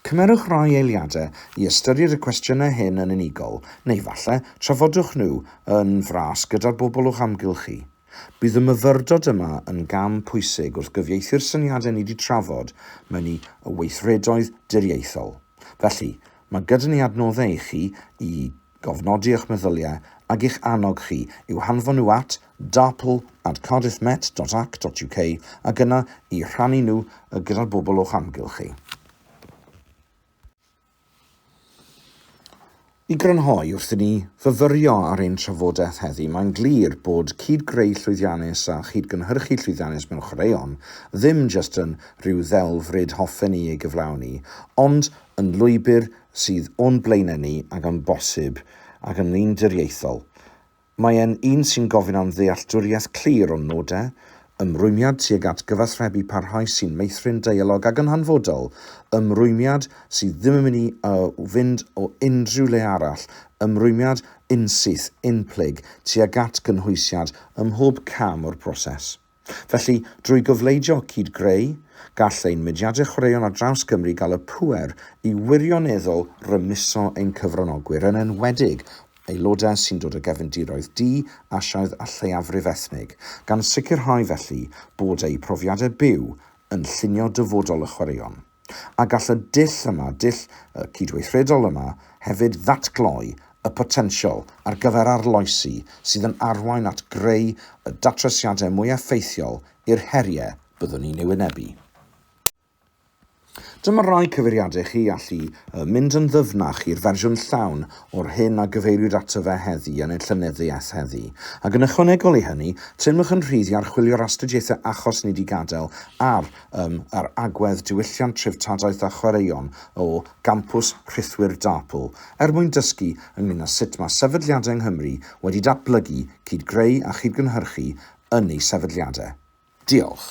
A: Cymerwch rai eiliadau i ystyried y cwestiynau hyn yn unigol, neu falle, trafodwch nhw yn fras gyda'r bobl o'ch amgylch chi. Bydd y myfyrdod yma yn gam pwysig wrth gyfieithu'r syniadau ni 'di trafod mewn i weithredoedd diriaethol. Felly, mae gyda ni adnoddau i chi i gofnodi eich meddyliau ac i'ch annog chi i'w hanfon nhw at darpl at cardiffmet.ac.uk ac yna i rhannu nhw gyda'r bobl o'ch amgylch chi. I grynhoi, wrth i ni fyfyrio ar ein trafodaeth heddi, mae'n glir bod cyd-greu llwyddiannus a chyd-gynhyrchu llwyddiannus mewn chwaraeon ddim jyst yn rhyw ddelf ryd hoffen ni ei gyflawni, ond yn lwybr sydd o'n blaenau ni ac yn bosib ac yn wneuduriaethol Mae e'n un sy'n gofyn am ddealltwriaeth clir o'n nodau, ymrwymiad tuag at gyfathrebu parhaus sy'n meithrin deialog ac yn hanfodol, ymrwymiad sydd ddim yn mynd i fynd o unrhyw le arall, ymrwymiad unsyth, unplyg, tuag at gynhwysiad ym mhob cam o'r broses. Felly, drwy gyfleidio cyd-greu, gall ein mudiadau chwaraeon ar draws Cymru gael y pŵer i wirioneddol rymuso ein cyfranogwyr, yn enwedig aelodau sy'n dod o gefndiroedd du, Asiaidd a lleiafrif ethnig, gan sicrhau felly bod eu profiadau byw yn llunio dyfodol y chwaraeon. a gall y dull yma, dull cydweithredol yma, hefyd ddatgloi y potensial ar gyfer arloesi sydd yn arwain at greu y datrysiadau mwy effeithiol i'r heriau byddwn ni'n eu wynebu. Dyma rai cyfeiriadau i chi allu mynd yn ddyfnach i'r fersiwn llawn o'r hyn a gyfeiriwyd ato fe heddi yn ein Llenyddiaeth heddi, ac yn ychwanegol i hynny, teimlwch yn rhydd i archwilio'r astudiaethau achos ni 'di gadael ar Ym yr agwedd diwylliant treftadaeth a chwaraeon o Gampws Rhithwir Darple er mwyn dysgu ynglŷn â sut mae sefydliadau yng Nghymru wedi datblygu, cyd-greu a chyd-gynhyrchu yn eu sefydliadau. Diolch.